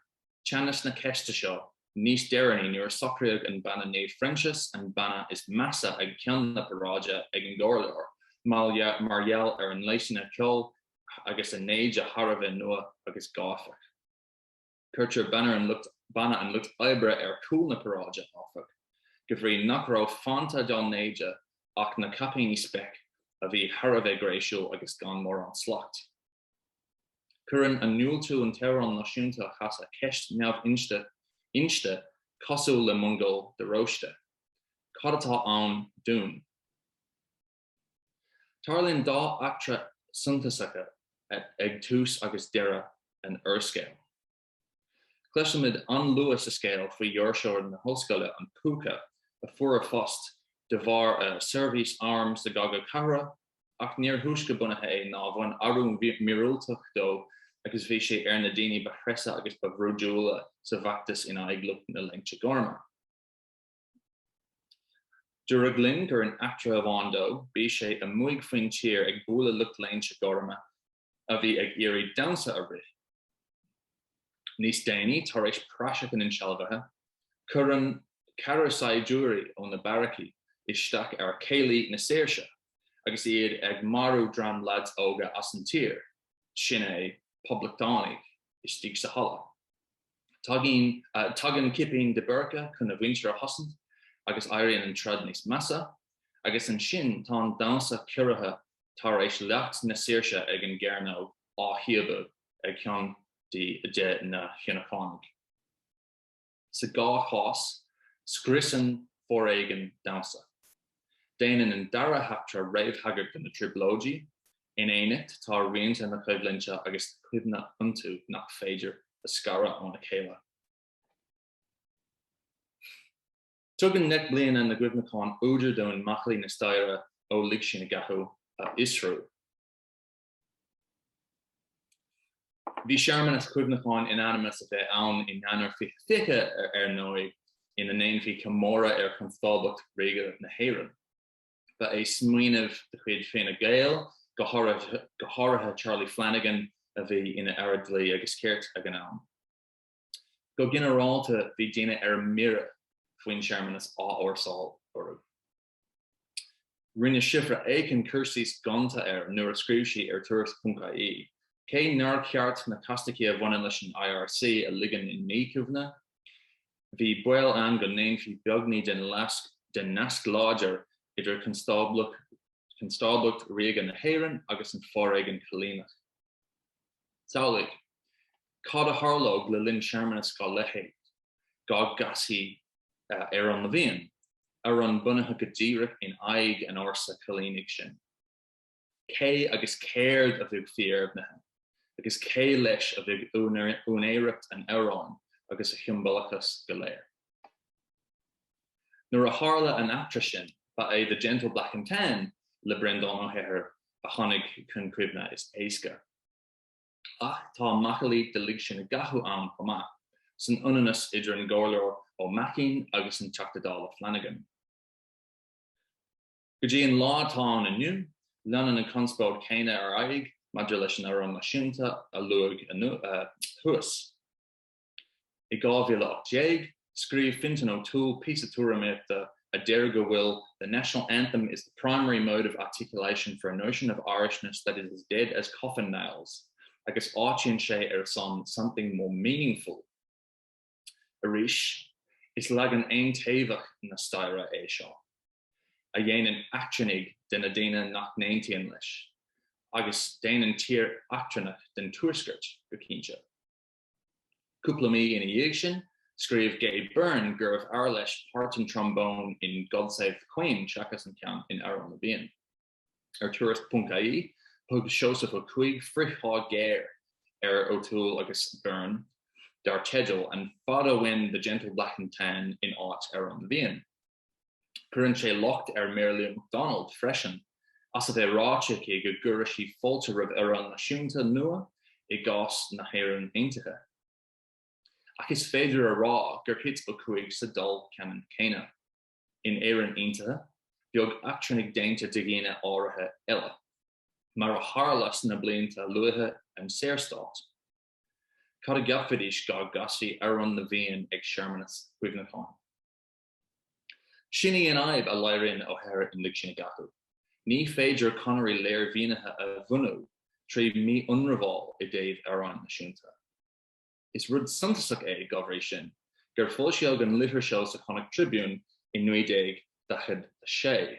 teannas na ceiste seo níos deireanaí nuair a socraíodh an banna Naomh Phroinsias, an banna is measa ag ceann na paráide ag an gComhairleoir, mar gheall ar a ngléasanna ceoil agus a n-éide thar a bheith nua agus gáifeach. Cuirtear Banna an Lucht Oibre ar chúl na paráide, áfach, go bhrí nach raibh fanta dá n-éide ach na caipíní speic a bhí thar a bheith gréisiúil agus gan mórán slacht. Cuireann a ndiúltú an t-amhrán náisiúnta a chasadh ceist neamh-inste, cosúil le Mongol de Róiste. Cad atá ann dúinn? Tarlaíonn dhá eachtra suntasacha ag tús agus deireadh an úrscéil. Cloisimid an-luath sa scéal faoi dhoirseoir na hollscoile, an Púca, a fuair a phost de bharr a seirbhís airm sa gCogadh Cathartha, ach níor thúisce bunaithe é ná bhain athrú míorúilteach dó agus bhí sé ar na daoine ba threise agus ba bhrúidiúla sa bhfeachtas in aghaidh lucht na Léinte Gorma. Dúradh linn gur in eachtra amháin dó, bhí sé amuigh faoin tír ag bualadh lucht léinte gorma a bhí ag iarraidh damhsa a rith. Níos déanaí, tar éis praiseach an insealbhaithe, cuireann ceathrar saighdiúirí ó na beairicí isteach ar chéilí na saoirse agus iad ag marú dream leaids óga as an tír, sin é, poblachtánaigh, istigh sa halla. Tagann cipín de Búrca chun a mhuintir a chosaint agus éiríonn an troid níos measa. Agus ansin tá an damhsa ciorraithe tar éis leacht na saoirse ag an gcearnóg á shíobadh ag ceann de na hIonúcánaigh. Sa dhá chás, scriosann foréigean damhsa. Déanann an dara heachtra réamhthagairt do na Trioblóidí. In éineacht, tá rianta na coimhlinte agus cuimhne iontu nach féidir a scaradh óna chéile. Tugann Deich mBliana na gCuimhneachán údar dúinn macallaí na staire ó Lig Sinn i gCathú a fhiosrú. Bhí searmanas cuimhneacháin in ainm is a bheith ann in Eanáir 2020 ar ndóigh, ina ndéanfaí comóradh ar Chonstáblacht Ríoga na hÉireann. Ba é smaoineamh de chuid Fine Gael, go háirithe Charlie Flanagan, a bhí ina Aire Dlí agus Cirt ag an am. Go ginearálta bhí daoine ar mire faoin searmanas á fhórsáil orthu. Rinne Síobhra Aiken cur síos gonta air nuair a scríobh sí ar Tuairisc.ie, Cé nár cheart na castachtaí a bhaineann leis an IRC a ligean i ndíchuimhne, bhí baol ann go ndéanfaí beagní den nasc láidir idir Constáblacht Ríoga na hÉireann agus an foréigean coilíneach. Samhlaigh cad a tharlódh le linn searmanas dá leithéid, dá gcasfaí Amhrán na bhFiann, amhrán bunaithe go díreach in aghaidh an fhórsa choilínigh sin. Cé agus céard a bheadh cuimhnithe? Agus cé leis a bheadh úinéireacht an amhráin agus a shiombalachas go léir? Nuair a tharla an eachtra sin, ba é The Gentle Black and Tan le Breandán Ó hEithir a tháinig chun cuimhne is éasca. ach tá macallaí de Lig Sinn i gCathú ann chomh maith, san ionannas idir an gComhairleoir Ó Maicín agus an Teachta Dála Flanagan. Go dtí an lá atá ann inniu, leanann an conspóid chéanna ar aghaidh maidir leis an Amhrán Náisiúnta a luadh thuas. I 2018, scríobh Fintan O'Toole píosa tuairimíochta a deir go bhfuil the national anthem is the primary mode of articulation for a notion of Irishness that is as dead as coffin nails agus áitíonn sé ar son something more meaningful. Arís, is leagan aontaobhach na staire é seo, a dhéanann eachtrannaigh de na daoine nach n-aontaíonn leis, agus déanann tír eachtrannach den Tuaisceart, go cinnte. Cúpla mí ina dhiaidh sin, scríobh Gay Byrne gurbh fhearr leis páirt an trombone in God Save the Queen seachas an ceann in Amhrán na bhFiann. Ar Tuairisc.ie, thug Seosamh Ó Cuaig frithshá géar ar O'Toole agus Byrne dar teideal 'An fada uainn The Gentle Black and Tan in áit Amhrán na bhFiann'. Cuireann sé locht ar Mary Lou McDonald freisin as a bheith ráite aici go gcuirfeadh sí fáilte roimh amhrán náisiúnta nua i gcás na hÉireann Aontaithe. Ach is féidir a rá gur thit Ó Cuaig sa dol ceannann céanna. In Éirinn Aontaithe, bheadh eachtrannaigh déanta de dhaoine áirithe eile, mar a tharla sna blianta luatha den Saorstát. Cad a gceapfaidís dá gcasfaí Amhrán na bhFiann ag searmanas cuimhneacháin? Sin í an fhadhb a léiríonn Ó hEithir in Lig Sinn i gCathú. Ní féidir conairí léirmhínithe a bhunú trí mhí-ionramháil i dtaobh amhráin náisiúnta. Is rud suntasach é, dá bhrí sin, gur foilsíodh an litir seo sa Connacht Tribune i 1946.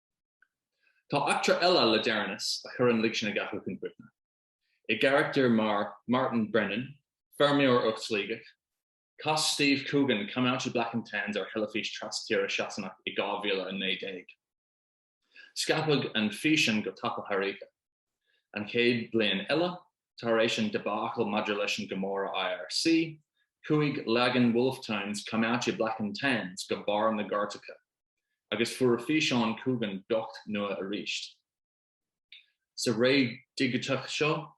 Tá eachtra eile le deireanas a chuireann Lig Sinn i gCathú chun cuimhne. I gcarachtar mar Martin Brennan, feirmeoir ó Shligeach, chas Steve Coogan Come Out Ye Black and Tans ar theilifís trastíre Shasanach i 2019. Scaipeadh an físean go tapa thar oíche, an chéad bhliain eile tar éis an debacle maidir leis an gcomóradh IRC, chuaigh leagan Wolfe Tones Come Out Ye Black and Tans go barr na gcairteacha. agus fuair físeán Coogan beocht nua arís. Sa ré dhigiteach seo,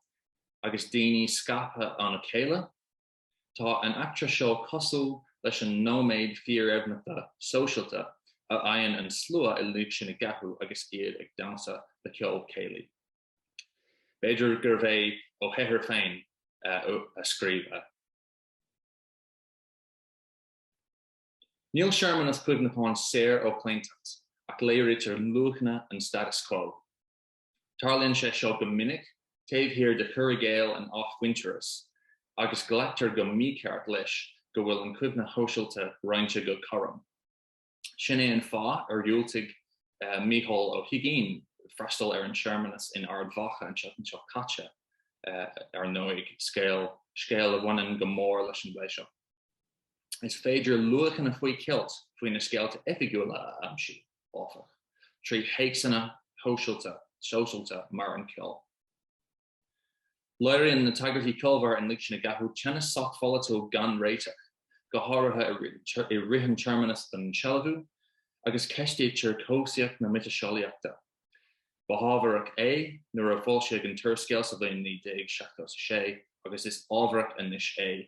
agus daoine scaipthe óna chéile, tá an eachtra seo cosúil leis an nóiméad fíordheimhneachta sóisialta a fhaigheann an slua i Lig Sinn i gCathú agus iad ag damhsa le ceol céilí. B'fhéidir gurbh é Ó hEithir féin a scríobh a. Níl searmanas cuimhneacháin saor ó chlaontacht, ach léirítear luachanna an status quo. Tarlaíonn sé seo go minic taobh thiar de chur i gcéill an athmhuintearais, agus glactar go mícheart leis go bhfuil an chuimhne shóisialta roinnte go cothrom. Sin é an fáth ar dhiúltaigh Micheál Ó hUiginn freastal ar an searmanas in Ard Mhacha an tseachtain seo caite, ar ndóigh, scéal a bhaineann go mór leis an bplé seo. Is féidir luachanna faoi cheilt faoi na scéalta oifigiúla a aimsiú, áfach, trí théacsanna shóisialta, sóisialta mar an ceol. Léiríonn na tagairtí ceolmhara in Lig Sinn i gCathú teannas sochpholaitiúil gan réiteach, go háirithe i rith an tsearmanas don sealbhú, agus ceistítear cobhsaíocht na miotaseolaíochta. Ba hábharach é nuair a foilsíodh an t-úrscéal sa bhliain 1976, agus is ábharach anois é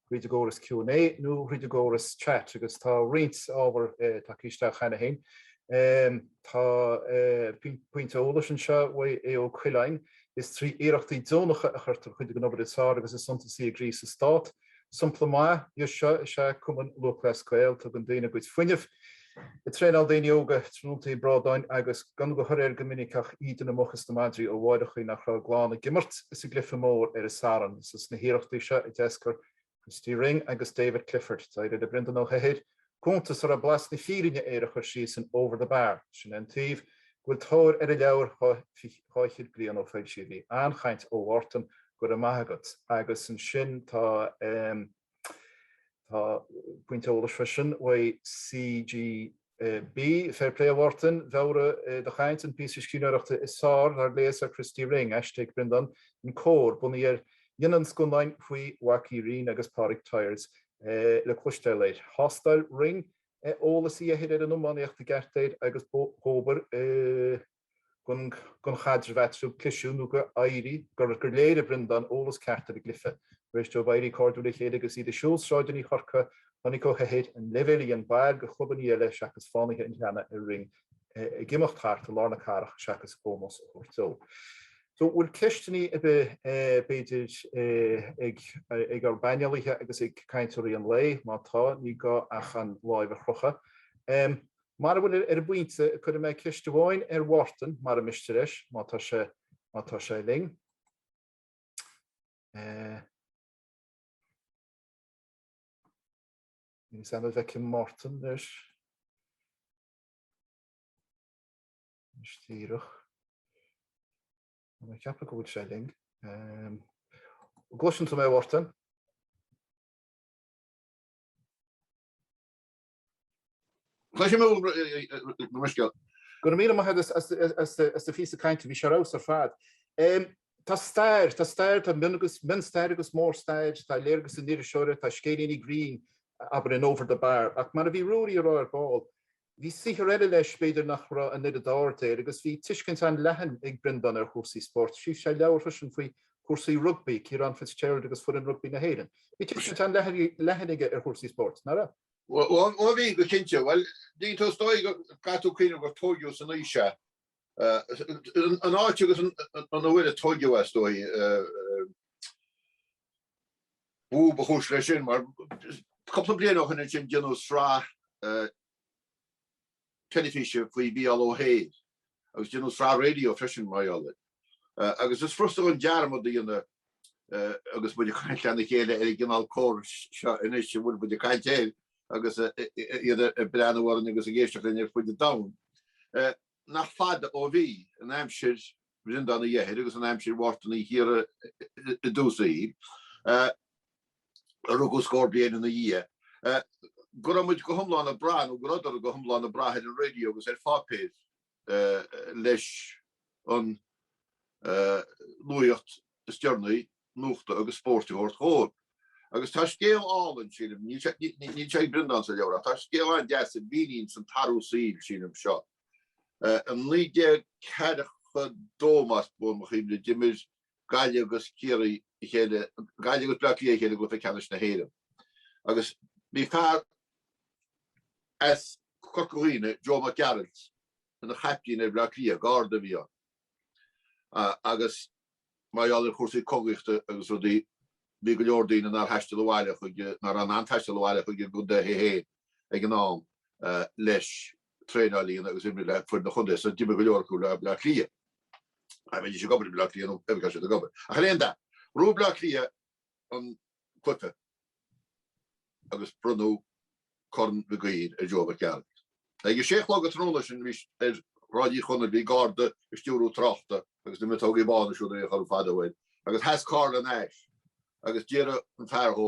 tríd an gcóras Q and A nó thríd an gcóras chat agus tá roinnt ábhar tagtha isteach cheana féin. Tá pointe eolais anseo uaidh Aodh Ó Coileáin, Is trí iarrachtaí deonacha a chuirtear cuid den obair is fearr agus is suntasaí i gcrích sa Stát. Sompla maith dhe seo is ea Cumann Lúthchleas Gael, tugann daoine a gcuid fuinnimh, Ag traenáil daoine óga, tráthnóntaí brádáin agus gan de thoradh air go minic ach íde na muc is na madraí ó mháithreachaí nach raibh a gclann ag imirt sa gcluiche mór ar an Satharn. Is as na hiarrachtaí seo a d'eascair Christy Ring agus David Clifford. D'éirigh le Breandán Ó hEithir cuntas a raibh blas na fírinne air a chur síos in Over the Bar. Sin é an taobh go bhfuil tóir ar a leabhar dhá fhichead bliain ó foilsíodh í. An-chaint ó Mhártan, go raibh maith agat. Agus ansin tá. Tá pointe eolais freisin uaidh CGB, Féir plé a Mhártain, mheabhraigh do chaint an píosa scríbhneoireachta is fearr dár léas ar Christy Ring, aiste ag Breandán in Comhar, bunaithe ar dhéanamh an scannáin faoi Mhac Uí Rinn agus Pádraig Tyers le cloisteáil air. Thástáil Ring eolas Uí Eithir ar an iománaíocht i gceart air agus dhóbair don chaidreamh eatarthu, cliseadh nó gur éirigh, gur léirigh Breandán eolas ceart ar an gcluiche. Tar éis dóibh éirí cairdiúil le chéile agus iad ag siúl sráideanna Chorcaí, chonaic Ó hEithir an leibhéal a dhein baill de chlubanna eile seachas Fánaithe an Ghleanna ar Ring ag imeacht thart i lár na cathrach seachas ómós a thabhairt dó. So an bhfuil ceisteanna ar bith, b'fhéidir, ag ár bpainéalaithe agus ag cainteoirí an lae? Má tá, ní gá ach an lámh a chrochadh. Mara bhfuil ar an bpointe, cuirfidh mé ceist amháin ar Mhártan, mara miste leis, má tá sé, má tá sé linn. Eh. Níl a fhios agam an bhfeicim Mártan, leis. Anois díreach. Mé ag ceapadh go bhfuil sé linn. Eh. Gcloiseann tú mé, Mhártan? Tá sé mall go mbruscar. Go raibh míle maith agat as do phíosa cainte, bhí sé ar fheabhas ar fad. Tá stair, tá stair, tá mion-stair agus mór-stair, tá léargas an iriseora, tá scéilíní grinn, abair, in Over the Bar, ach mar a bhí Ruairí a rá ar ball, bhí saothar eile leis b'fhéidir nach raibh an oiread aird air agus bhí tuiscint an-leathan ag Breandán ar chúrsaí spóirt, scríobh sé leabhar freisin faoi chúrsaí rugbaí, Ciarán Fitzgerald agus foireann rugbaí na hÉireann. Bhí tuiscint an-leathan aige ar chúrsaí spóirt, nach raibh? Ó
bhí, go cinnte. Bhuel, tuigeann tú is dóigh go gcaithfidh tú cuimhneamh gur tóigeadh san aois ea an áit agus an uair a tóigeadh is dóigh, ba, ba chúis leis sin, mar cúpla bliain ó shoin ansin déanadh sraith teilifíse faoi Mhícheál Ó hEithir agus déanadh sraith raidió freisin, mar gheall air. Agus is furasta dhúinn dearmad a dhéanamh, agus muid ag caint lena chéile ar an gcineál córais seo anois a bhfuil muid ag caint air, agus iad ag breathnú orainn agus ag éisteacht linn ar fud an domhain, nach fada ó bhí, in aimsir Bhreandán Uí Eithir agus in aimsir Mhártan Uí Chiardha i dtús a shaoil, a rugadh scór bliain ina dhiaidh, go raibh muid go hiomlán ag brath, nó go rabhadar go hiomlán ag brath ar an raidió agus ar pháipéir leis an nuaíocht is deireanaí, nuachta agus spóirt, a thabhairt dhóibh. Agus tá scéal álainn, sílim, níl sé ag Breandán sa leabhar, ach tá scéal an-deas a mhíníonns an t-athrú saoil, sílim, seo. I naoi déag ceathracha dó, más buan mo chuimhne, d'imir Gaillimh agus Ciarraí a chéile, Gaillimh agus Bleá Cliath a chéile i gcluiche ceannais na hÉireann agus bhí fear as Corca Dhuibhne, Joe Mac Gearailt, ina chaiptín ar Bhleá Cliath, Garda a bhí ann agus mar gheall ar chúrsaí cogaíochta agus rudaí bhí go leor daoine nár thaistil abhaile chuig, nach raibh in ann taisteal abhaile chuig a gcontaetha féin ag an am leis traenáil a dhéanamh agus imirt le foireann an chontae so d'imir go leor acu le Bleá Cliath. a bheidís ag obair i mBleá Cliath nó ar gá siad ag obair ach ar aon dath. Ghnóthaigh Bleá Cliath an cluife agus bronnadh Corn Mhig Uidhir ar Joe Mac Gearailt. Ag a sé a chlog an tráthnóna sin ar Shráid Uí Chonaill bhí garda ag stiúradh tráchta agus na miotógaí bána siúd a bhíodh orthu fadó air agus sheas carr lena ais agus d'iarr an fear dhó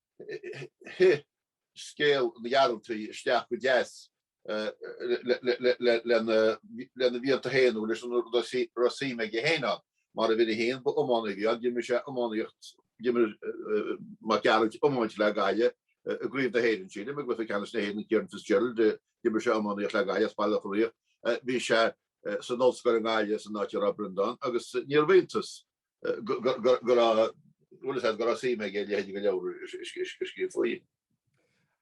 Thit scéal na nGearaltaigh isteach go deas lena mhianta féin nó leis a raibh suim aige féin ann. Mar uimhir a haon, ba iománaí a bhí ann, d'imir sé iománaíocht, d'imir Mac Gearailt iomáint le Gaillimh i gCraobh na hÉireann, sílim, i gCluiche Ceannais na hÉireann, Ciarán Fitzgerald, d'imir sé iománaíocht le Gaillimh as Baile Locha Riach, bhí sé san ollscoil i nGaillimh san áit a raibh Breandán agus níorbh iontas go raibh suim aige i leithéidí na leabhar a scríobh faoi.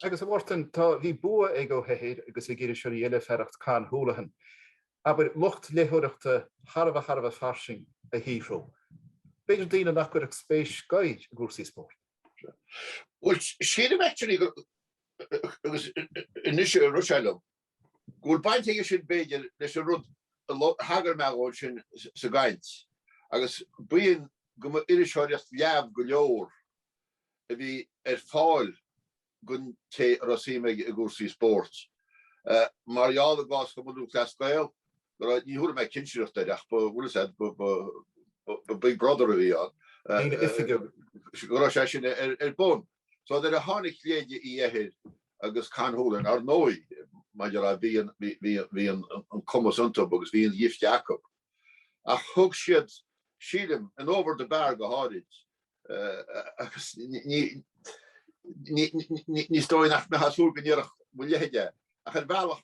Agus, a
Mhártain, tá, bhí bua ag Ó hEithir agus ag iriseoirí eile fearacht Con Houlihan, abair, lucht léitheoireachta thar a bheith, thar a bheith fairsing a shaothrú. B'fhéidir daoine nach gcuirfeadh spéis go i gcúrsaí spóirt.
Bhuel, sílim actually go, agus anois a rith sé liom, go bhfuil baint aige sin, b'fhéidir, leis an rud a thagair mé dhó ansin sa gcaint, agus b'in go mba iriseoireacht leamh go leor a bhí ar fáil don té a raibh suim aige i gcúrsaí spóirt. Mar gheall, i gcás Chumann Lúthchleas Gael, go raibh, ní thabharfaidh mé cinsireacht air, ach ba bhfuil 'fhios a'd, ba, ba, ba Big Brother a bhí ann, go raibh sé sin ar bun. So nuair a tháinig leithéid Uí Eithir agus Con Houlihan, ar ndóigh, mar a déarfá, bhí an cumas iontu agus bhí an ghifte acu. Ach thug siad, sílim, in Over the Bar go háirid, agus ní ní ní is dóigh nach mbeifeá ag súil go ndéarfadh mo leithéide é, ach ar bhealach,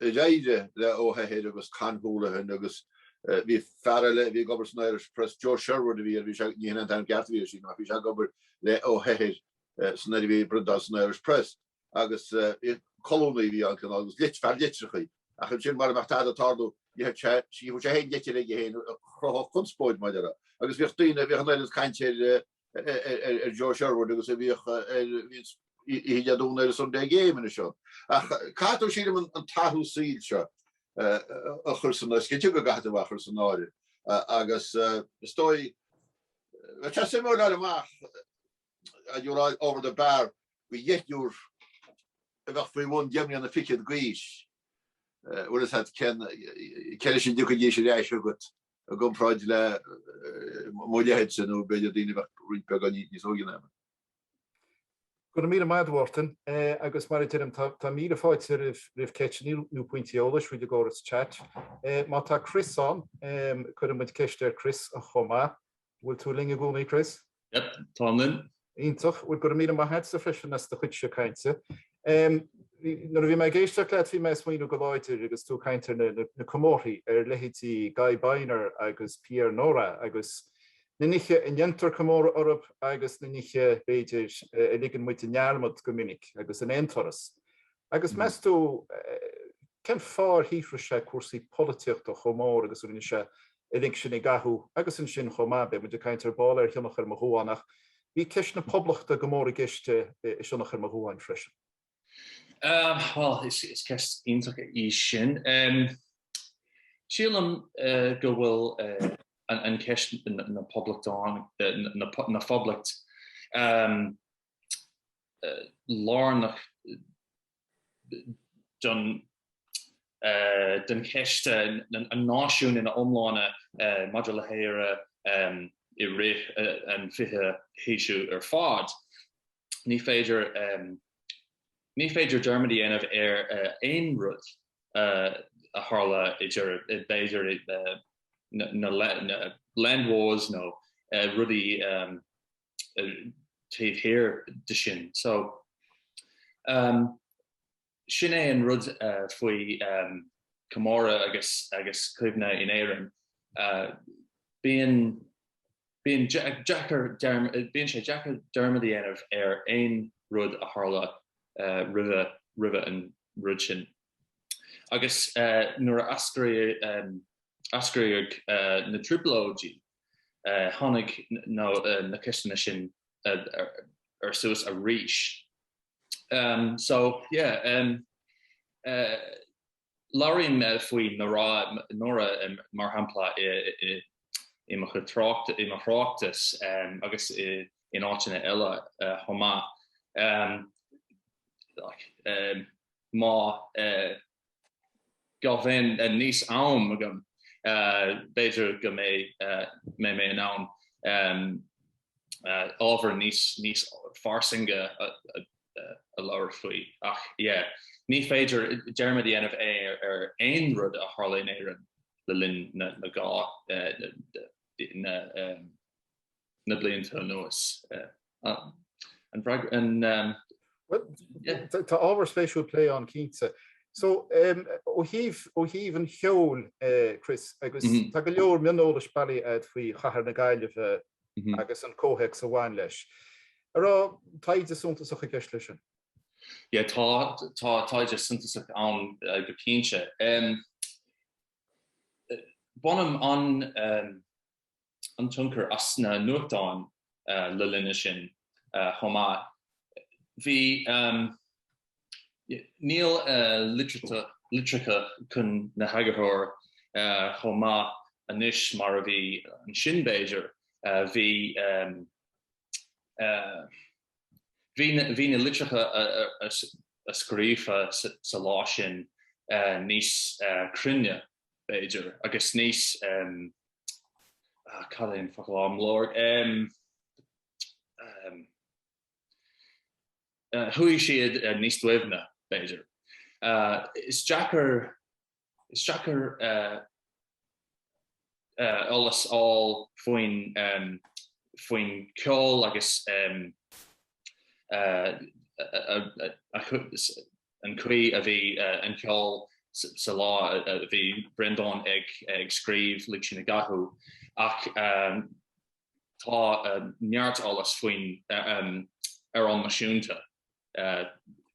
D'éirigh le Ó hEithir agus Con Houlihan agus bhí fear eile a bhí ag obair san Irish Press, Joe Sherwood a bhí air, bhí sé, ní shin é an t-ainm ceart a bhí air sílim, ach bhí sé ag obair le Ó hEithir san Ir, bhí Breandán san Irish Press agus colúnaí a bhí ann cineál agus fear litreacha. Ach ansin mara mbeadh tada ag tarlú d'itheadh sé, scríobhadh sé féin litir aige féin a chruthódh conspóid mar a déarfá. Agus bhíodh daoine, bhíodh an oiread cainte ar, ar Joe Sherwood agus a bhíodh oíche Dé Domhnaigh ar Sunday Game anois ann. Ach caithfidh tú, sílim, an t-athrú saoil seo a chur san áireamh. Is cinnte go gcaithfidh tú a chur san áireamh agus is dóigh, bheadh sé suimiúil a fháil amach, dá dtabharfá Over the Bar go dheichniúr a bheadh faoi bhun deich mbliana fichead d'aois, bhfuil 'fhios a'd, cé leis a dtiocfaidís ar ais chugat. I gcomparáid le mo leithéidse, nó b'fhéidir daoine a bheadh roinnt beagán níos óige ná mé.
Go raibh míle maith a'd, a Mhártain. Agus mar a deirim, tá míle fáilte roimh ceisteanna nó pointí eolais faoi i gcóras chat. Má tá Chris ann, cuirfidh muid ceist ar Chris chomh maith. Bhfuil tú linn i gcónaí, Chris? Yep, táim
linn. Iontach, bhuel
gura míle maith agatsa freisin as do chuidse cainte. Nuair a bhí mé ag éisteacht leat bhí mé ag smaoiniú go láidir agus tú ag caint ar na comórthaí ar leithéidí Guy Beiner agus Pierre Nora agus na nithe a ndéantar comóradh orthu agus na nithe, b'fhéidir, a ligeann muid i ndearmad go minic agus in aon turas. Agus meas tú, cén fáth ar shaothraigh sé cúrsaí polaitíochta chomh mór agus a rinne sé i Lig Sinn i gCathú. Agus ansin chomh maith, beidh muid ag caint ar ball ar Shionnach ar mo Dhuán, ach bhí ceist na Poblachta go mór i gceist i Sionnach ar mo Dhuán freisin.
Bhuel, is ceist iontach í sin. Sílim go bhfuil an cheist na Poblachta ann, na Phoblacht, lárnach don den cheist an náisiúin ina iomláine maidir le hÉire i rith an fichiú haois ar fad. Ní féidir Ní féidir dearmad a dhéanamh ar aon rud a tharla idir b'fhéidir na Land Wars nó rudaí taobh thiar de sin. So, sin é an rud faoi chomóradh agus agus cuimhne in Éirinn. Bíonn bíonn deacair bíonn sé deacair dearmad a dhéanamh ar aon rud a tharla roimhe roimhe an rud sin. Agus nuair a eascraíodh na Trioblóidí, Tháinig na ceisteanna sin ar suas arís. So yeah, labhraím faoi Nora mar shampla i mo chuid tráchtas, i mo thráchtas agus in áiteanna eile chomh maith. go mbeidh níos am agam, b'fhéidir go mbeidh mé in ann ábhar níos níos fairsinge a labhairt faoi. Ach yeah, ní féidir dearmad a dhéanamh ar aon rud a tharla in Éirinn le linn na na na blianta anuas. An bhfreagra
an? Bhuel, tá ábhar spéisiúil plé ann cinnte. So, ó thaobh, ó thaobh an cheoil, Chris, agus tá go leor mioneolais bailithe a'd faoi chathair na Gaillimhe agus an comhthéacs a bhain leis. An raibh taighde suntasach i gceist leis sin? Yeah,
tá, tá taighde suntasach ann go cinnte. Bainim an, an tionchar as na nuachtáin le linne sin chomh maith. Bhí Níl litreacha chun na heagarthóir chomh maith anois mar a bhí ansin b'fhéidir. Bhí. Bhí na litreacha a scríobhadh sa lá sin níos cruinne, b'fhéidir, agus níos, cad é an focal atáim ag lorg, chuaigh siad níos doimhne, b'fhéidir. Is deacair Is deacair eolas a fháil faoin, faoin ceol agus an chaoi a bhí an ceol sa lá a bhí Breandán ag scríobh Lig Sinn i gCathú, ach Tá neart eolais faoin Amhrán Náisiúnta,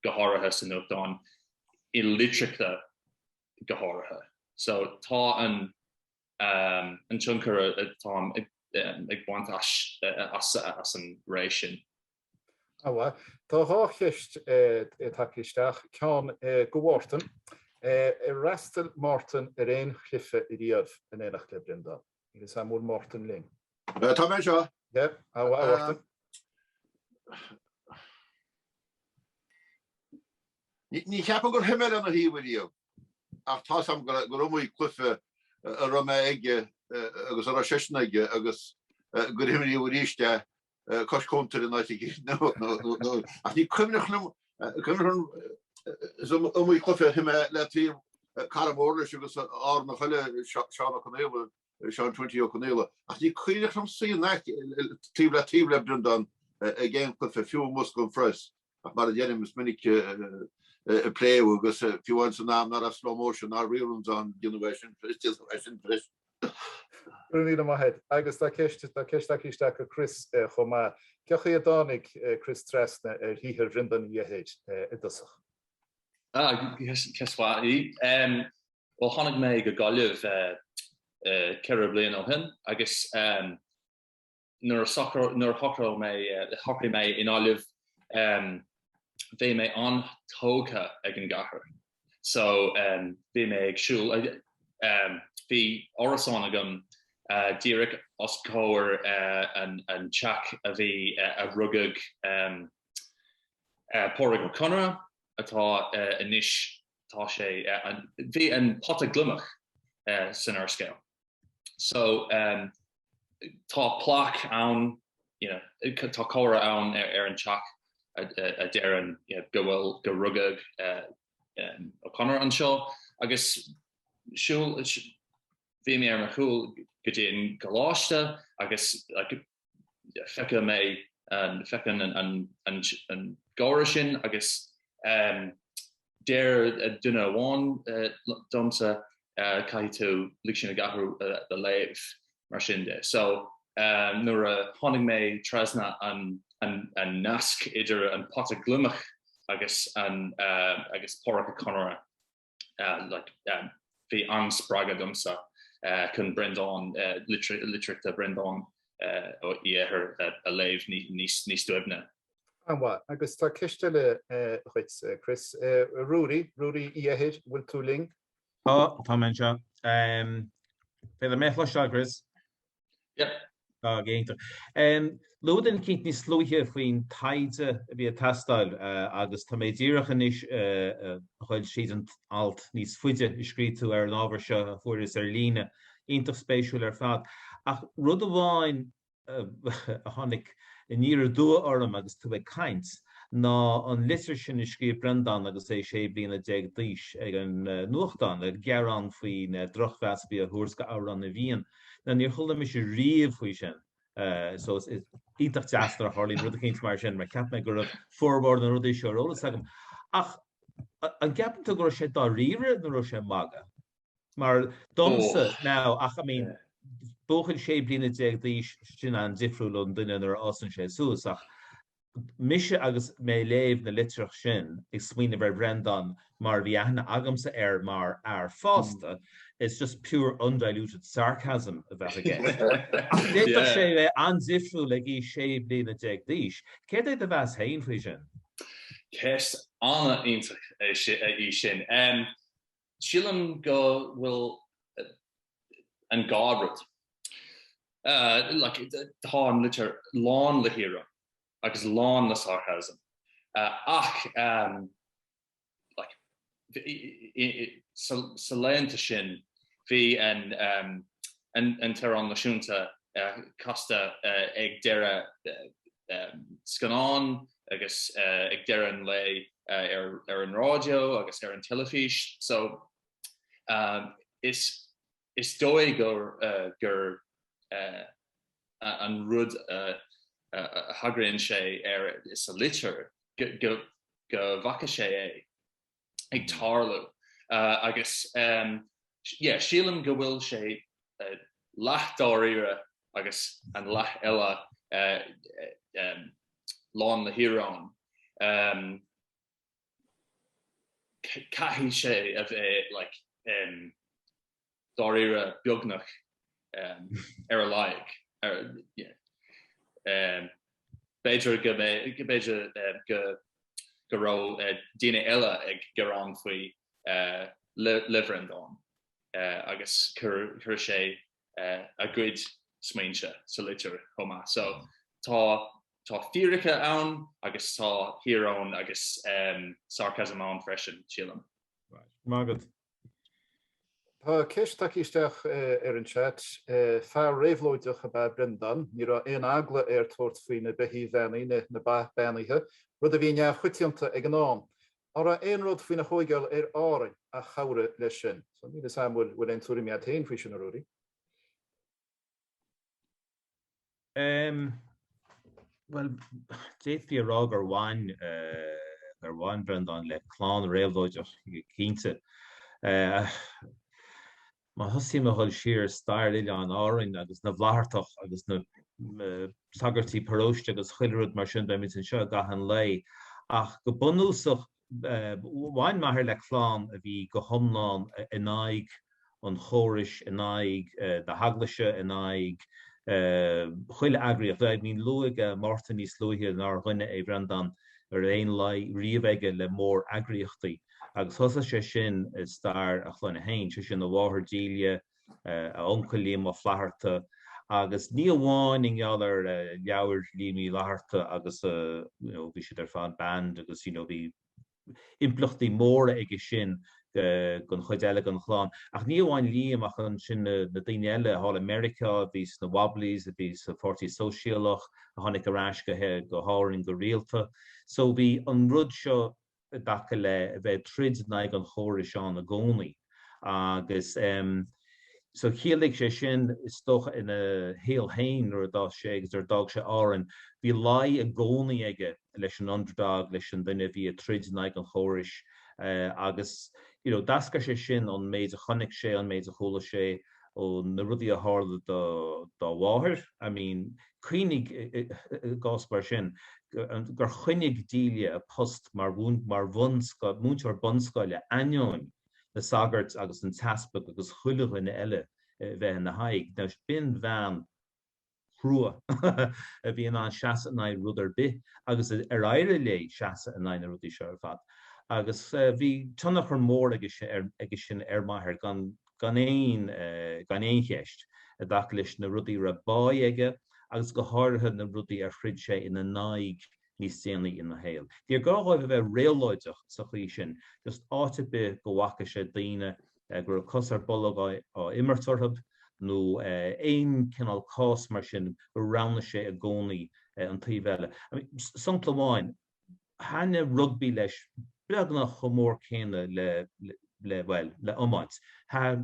go háirithe sa nuachtán i litreacha go háirithe. So tá an tionchar atáim ag baint as an ré
sin. Tá dhá cheist tagtha isteach, ceann do Mhártan. Ar fhreastail Mártan ar aon chluiche riamh in éineacht le Breandán? Is ea, an bhfuil Mártan linn? Tá mé
anseo. Yep, how are you? Ní cheapaim gur shuigh mé lena thaobh ariamh, ach tá's a'm gur iomaí cluife a raibh mé aige agus a raibh seisean aige agus gur himríodh aríst é Cois cuntair in áit nó ach ní cuimhneach liom cuimhneach liom is iomaí cluiche a shuigh mé le taobh cara mór leis agus Árannach eile Seán Ó Conghaile Seán Twenty Ó Conghaile ach ní cuimhneach liom suí na taobh le taobh le Breandán ag aon cluiche fiú i mbosca an phress Ach mar a deirim, is minic a pléadh, agus fiú amháin san am nach raibh slow motion ná reruns ann, déanadh é sin freisin, déanadh é sin freisin.
Go raibh míle maith agat. Agus tá ceist, tá ceist tagtha isteach do Chris chomh maith. Cé chaoi a dtáinig Chris trasna ar shaothar Bhreandáin Uí Eithir i dtosach? Ah,
ceist mhaith í. Bhuel, tháinig mé go Gaillimh ceithre bliana ó shin, agus nuair a shocraigh mé i nGaillimh bhí mé an-tógtha ag an gcathair so bhí mé ag siúl bhí árasán agam díreach os comhair an teach a bhí a rugadh Pádraic Ó Conaire atá anois tá sé bhí an pota gliomach san úrscéal. so um tá plaque ann you know tá comhartha ann ar an teach a deireann you know go bhfuil go rugadh um Ó Conaire anseo agus siúl bhí mé ar mo shiúl go dtí an gcoláiste agus like Feicim é, feicim an gáire sin agus deir duine amháin liomsa caithfidh tú lig sinn ag athrú do léamh, mar sin de. So nuair a tháinig mé trasna an nasc idir an pota gliomach agus agus Pádraic Ó Conaire, bhí an-spreagadh domsa chun Breandán, litreacha Bhreandáin Uí Eithir a léamh níos doimhne.
An-mhaith. Agus tá ceist eile dhuit, Chris. Ruairí, Ruairí Uí Eithir, an bhfuil tú linn? Tá, tá mé
anseo. Féidir mé a chloisteáil, Chris?
Yep. Tá go
hiontach. Luaigh tú i gcaint níos luaithe faoin taighde a bhí ag teastáil agus tá mé díreach anois ag cuil tríd an alt níos faide a scríobh tú ar an ábhar seo a fuaireas ar líne. Iontach spéisiúil ar fad. Ach rud amháin a tháinig aniar aduaidh orm agus tú ag caint ná an litir sin a scríobh Breandán agus é sé bliana déag d'aois ag an nuachtán, ag gearán faoin drochmheas a bhí á thabhairt go Amhrán na bhFiann. Now níor chuala mise riamh faoi sin so is iontach deas nuair a tharlaíonn rud eicínt mar sin mar cheap mé go raibh formhór na rudaí seo ar eolas agam. Ach an gceapann tú go raibh sé dáiríre nó an raibh sé ag magadh? Mar domsa, now, ach I mean buachaill sé bliana déag d'aois sin an-difriúil ón duine nuair a fhásann sé suas ach Mise agus mé ag léamh na litreach sin, ag smaoineamh ar Bhreandán mar a bhí aithne agamsa air mar fhear fásta, it's just pure undiluted sarcasm a bheadh aige. Ach d'fhéadfadh sé a bheith an-difriúil ag aois 16 bliana d'aois. Céard é do mheas féin faoi sin? Ceist
an-iontach í sin. Sílim go bhfuil an dá rud. Like, tá an litir lán le híoróin agus lán le sarcasm ach like, sna laethanta sin bhí an t-amhrán náisiúnta casta ag deireadh scannán, agus ag deireadh an lae ar an raidió agus ar an teilifís so is dóigh gur an rud a thagraíonn sé air sa litir go bhfaca sé é. ag tarlú agus yeah sílim go bhfuil sé leath dáiríre agus an leath eile lán le híoróin. Caithfidh sé a bheith like Dáiríre, beagnach. Ar a laghad. B'fhéidir go mb'fhéidir go raibh daoine eile ag gearán faoi le Breandán agus chuir sé a gcuid smaointe sa litir chomh maith. So tá fíricí ann agus tá íoróin agus sarcasm ann freisin, sílim. Maith agat.
Tá ceist tagtha isteach ar an chat. Fear réabhlóideach ab ea Breandán. Ní raibh aon eagla air tabhairt faoi na beithígh bheannaithe, na ba beannaithe, rud a bhí neamhchoitianta ag an am. An raibh aon rud faoina thóigeáil ar Árainn a chabhraigh leis sin? So níl 'fhios a'm an bhfuil aon tuairim agat féin faoi sin, a Ruairí.
Bhuel, d'fhéadfaí a rá gur bhain, gur bhain Breandán le clann réabhlóideach, cinnte. Má thosaím a dhul siar i stair Oileáin Árainn agus na bhFlaitheartach agus na sagairtí paróiste agus chuile rud mar sin, beimid anseo i gcaitheamh an lae. Ach go bunúsach, Bhain m'athair le clann a bhí go hiomlán in aghaidh an chórais, in aghaidh na hEaglaise, in aghaidh chuile eagraíocht. I mean luaigh Mártan níos luaithe nár dhuine é Breandán a raibh aon lé riamh aige le mór-eagraíochtaí, agus thosaigh sé sin i stair a chlainne féin, sé sin a mháthair Delia, a uncail Liam Ó Flaithearta, agus ní amháin i ngeall ar leabhair Liam Uí Fhlaithearta agus you know bhí siad ar fad banned agus you know bhí impleachtaí móra aige sin don chuid eile den chlann, ach ní amháin Liam ach ansin na daoine eile thall i Meiriceá a bhí sna Wobblies, a bhí sa Pháirtí Sóisialach, a tháinig ar ais go go hÁrainn go rialta. So bhí an rud seo i dtaca le bheith ag troid in aghaidh an chórais ann i gcónaí agus so chiallaigh sé sin is dócha ina shaol féin nuair a d'fhás sé agus nuair a d'fhág sé Árainn bhí lé i gcónaí aige leis an underdog, leis an duine a bhí ag troid in aghaidh an chórais agus you know d'eascair sé sin ón méid a chonaic sé, ón méid a chuala sé. ó na rudaí a tharla do dá mháthair, I mean, cuimhnigh, i gcás mar sin, gur choinnigh Delia a post mar múinteoir bunscoile ainneoin na sagairt agus an t-easpag agus chuile dhuine eile bheith ina haghaidh. Now, b'in bhean. chrua a bhí in ann seasamh in aghaidh rud ar bith agus ar éirigh léi seasamh in aghaidh na rudaí seo ar fad agus bhí tionchar mór aige sin ar m'athair gan aon cheist i dtaca leis na rudaí a raibh báidh aige agus go háirithe na rudaí ar throid sé ina n-aghaidh níos déanaí ina shaol. Níor ghá dhóibh a bheith réabhlóideach sa chaoi sin, just áit ar bith go bhfaca sé daoine go raibh cos ar bolg á imirt orthu, nó aon cineál cás mar sin, go roghnaigh sé i gcónaí an taobh eile. I mean, sampla amháin, thaitnigh rugbaí leis beagnach chomh mór céanna le, le, bhuel, le iomáint. Thar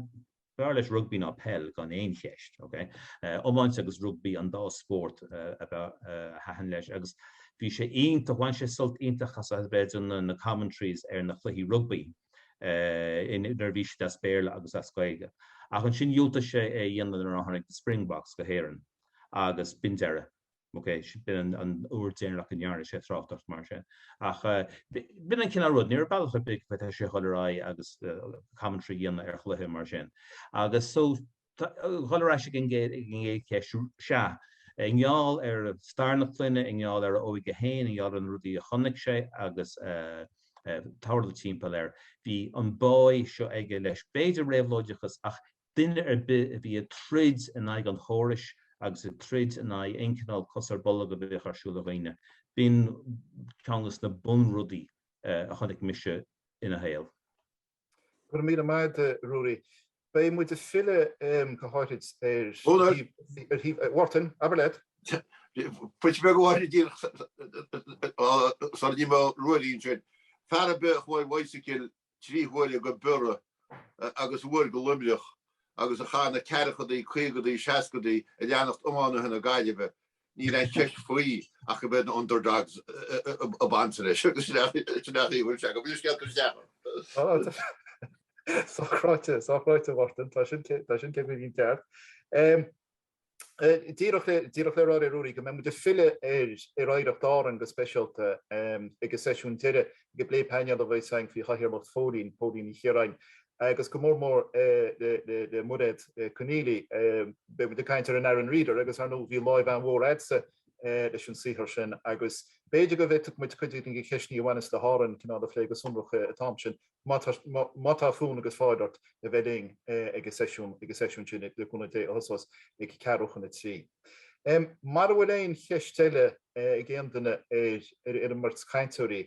B'fhearr leis rugbaí ná peil gan aon cheist, ok? Iomáint agus rugbaí an dá spórt ab fhearr a thaitin leis agus bhí sé iontach, bhain sé sult iontach as a bheith ag déanamh na commentaries ar na cluichí rugbaí nuair a bhí siad as Béarla agus as Gaeilge. Ach ansin dhiúltaigh sé é a dhéanamh nuair a tháinig na Springboks go hÉirinn agus b'in deireadh. OK, b'in an uair deireanach go ndearna sé tráchtaireacht, mar sin. Ach b'in an cineál rud, ní raibh bealach ar bith go bhféadfadh sé a dhul ar aghaidh agus commentary a dhéanamh ar chluiche mar sin. Agus so, dhul ar ais ag an gcéad cheist, sea, i ngeall ar stair na clainne, i ngeall ar a óige féin, i ngeall ar na rudaí a chonaic sé agus a tharla timpeall air, bhí an báidh seo aige leis, b'fhéidir réabhlóideachas ach Duine ar bith a bhí ag troid in aghaidh an chórais agus ag troid in aghaidh aon chineál cos ar bolg a bheadh ar siúl ar dhaoine, b'in ceann de na bunrudaí a chonaic mise ina shaol. Go
raibh míle maith agat, Ruairí. Beidh muid ag filleadh go háithrid ar thaobh. Mhártain, abair leat.
Pointe beag amháin a d'iarr Ruairí ansin. Fear ar bith a chuaigh ar bhicycle trí huaire go Biorra agus uair go Luimneach agus a chaith na ceathrachadaí, caogadaí, seascadaí ag leanacht iománaithe na Gaillimhe, níl aon cheist faoi ach go mb'iad na Underdogs ab ansa leis. Sin é an chaoi a bhfuil sé agat. Bhfuil an scéal curtha isteach
ort? Sách ráite, sách ráite, a Mhártain, tá sin cé go bhfuil an ceart. Díreach le rá le Ruairí go mbeidh muid ag filleadh ar Oidhreacht Árann go speisialta ag an seisiún deiridh ag an bplé painéil a bheas againn faoi chathaoirleacht Phóilín, Póilín Ní Chiaráin, agus go mór mór le Mairéad Conneely. Beidh muid ag caint ar an Aran Reader agus ar ndóigh bhí láimh an-mhór a'dsa leis an saothar sin agus b'fhéidir go bhféadfadh muid cuid de na ceisteanna a bhaineas le hÁrainn cineál a phlé go sonrach an t-am sin. Má tá fonn agus fáil ort a bheith linn ag an seisiún, ag an seisiún sin le cúnamh Dé a thosós ag ceathrú chun a trí. Mara bhfuil aon cheist eile ag aon duine ar an mbeirt cainteoirí,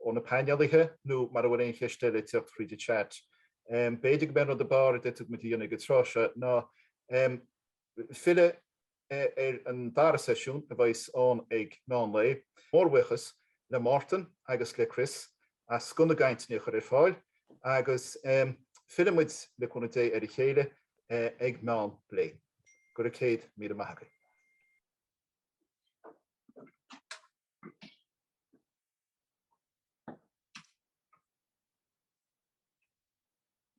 ó na painéalaithe, nó mara bhfuil aon cheist eile ag tíocht fríd an chat, b'fhéidir gurb é an rud ab fhearr a d'fhéadfadh muid a dhéanamh ag an tráth seo ná, Filleadh ar an dara seisiún a bheas ann ag meán lae. Mórbhuíochas le Mártan agus le Chris as scoth na gcainteanna a chur ar fáil agus fillfidh muid, le cúnamh Dé, ar a chéile ag meán lae. Go raibh céad míle maith agaibh.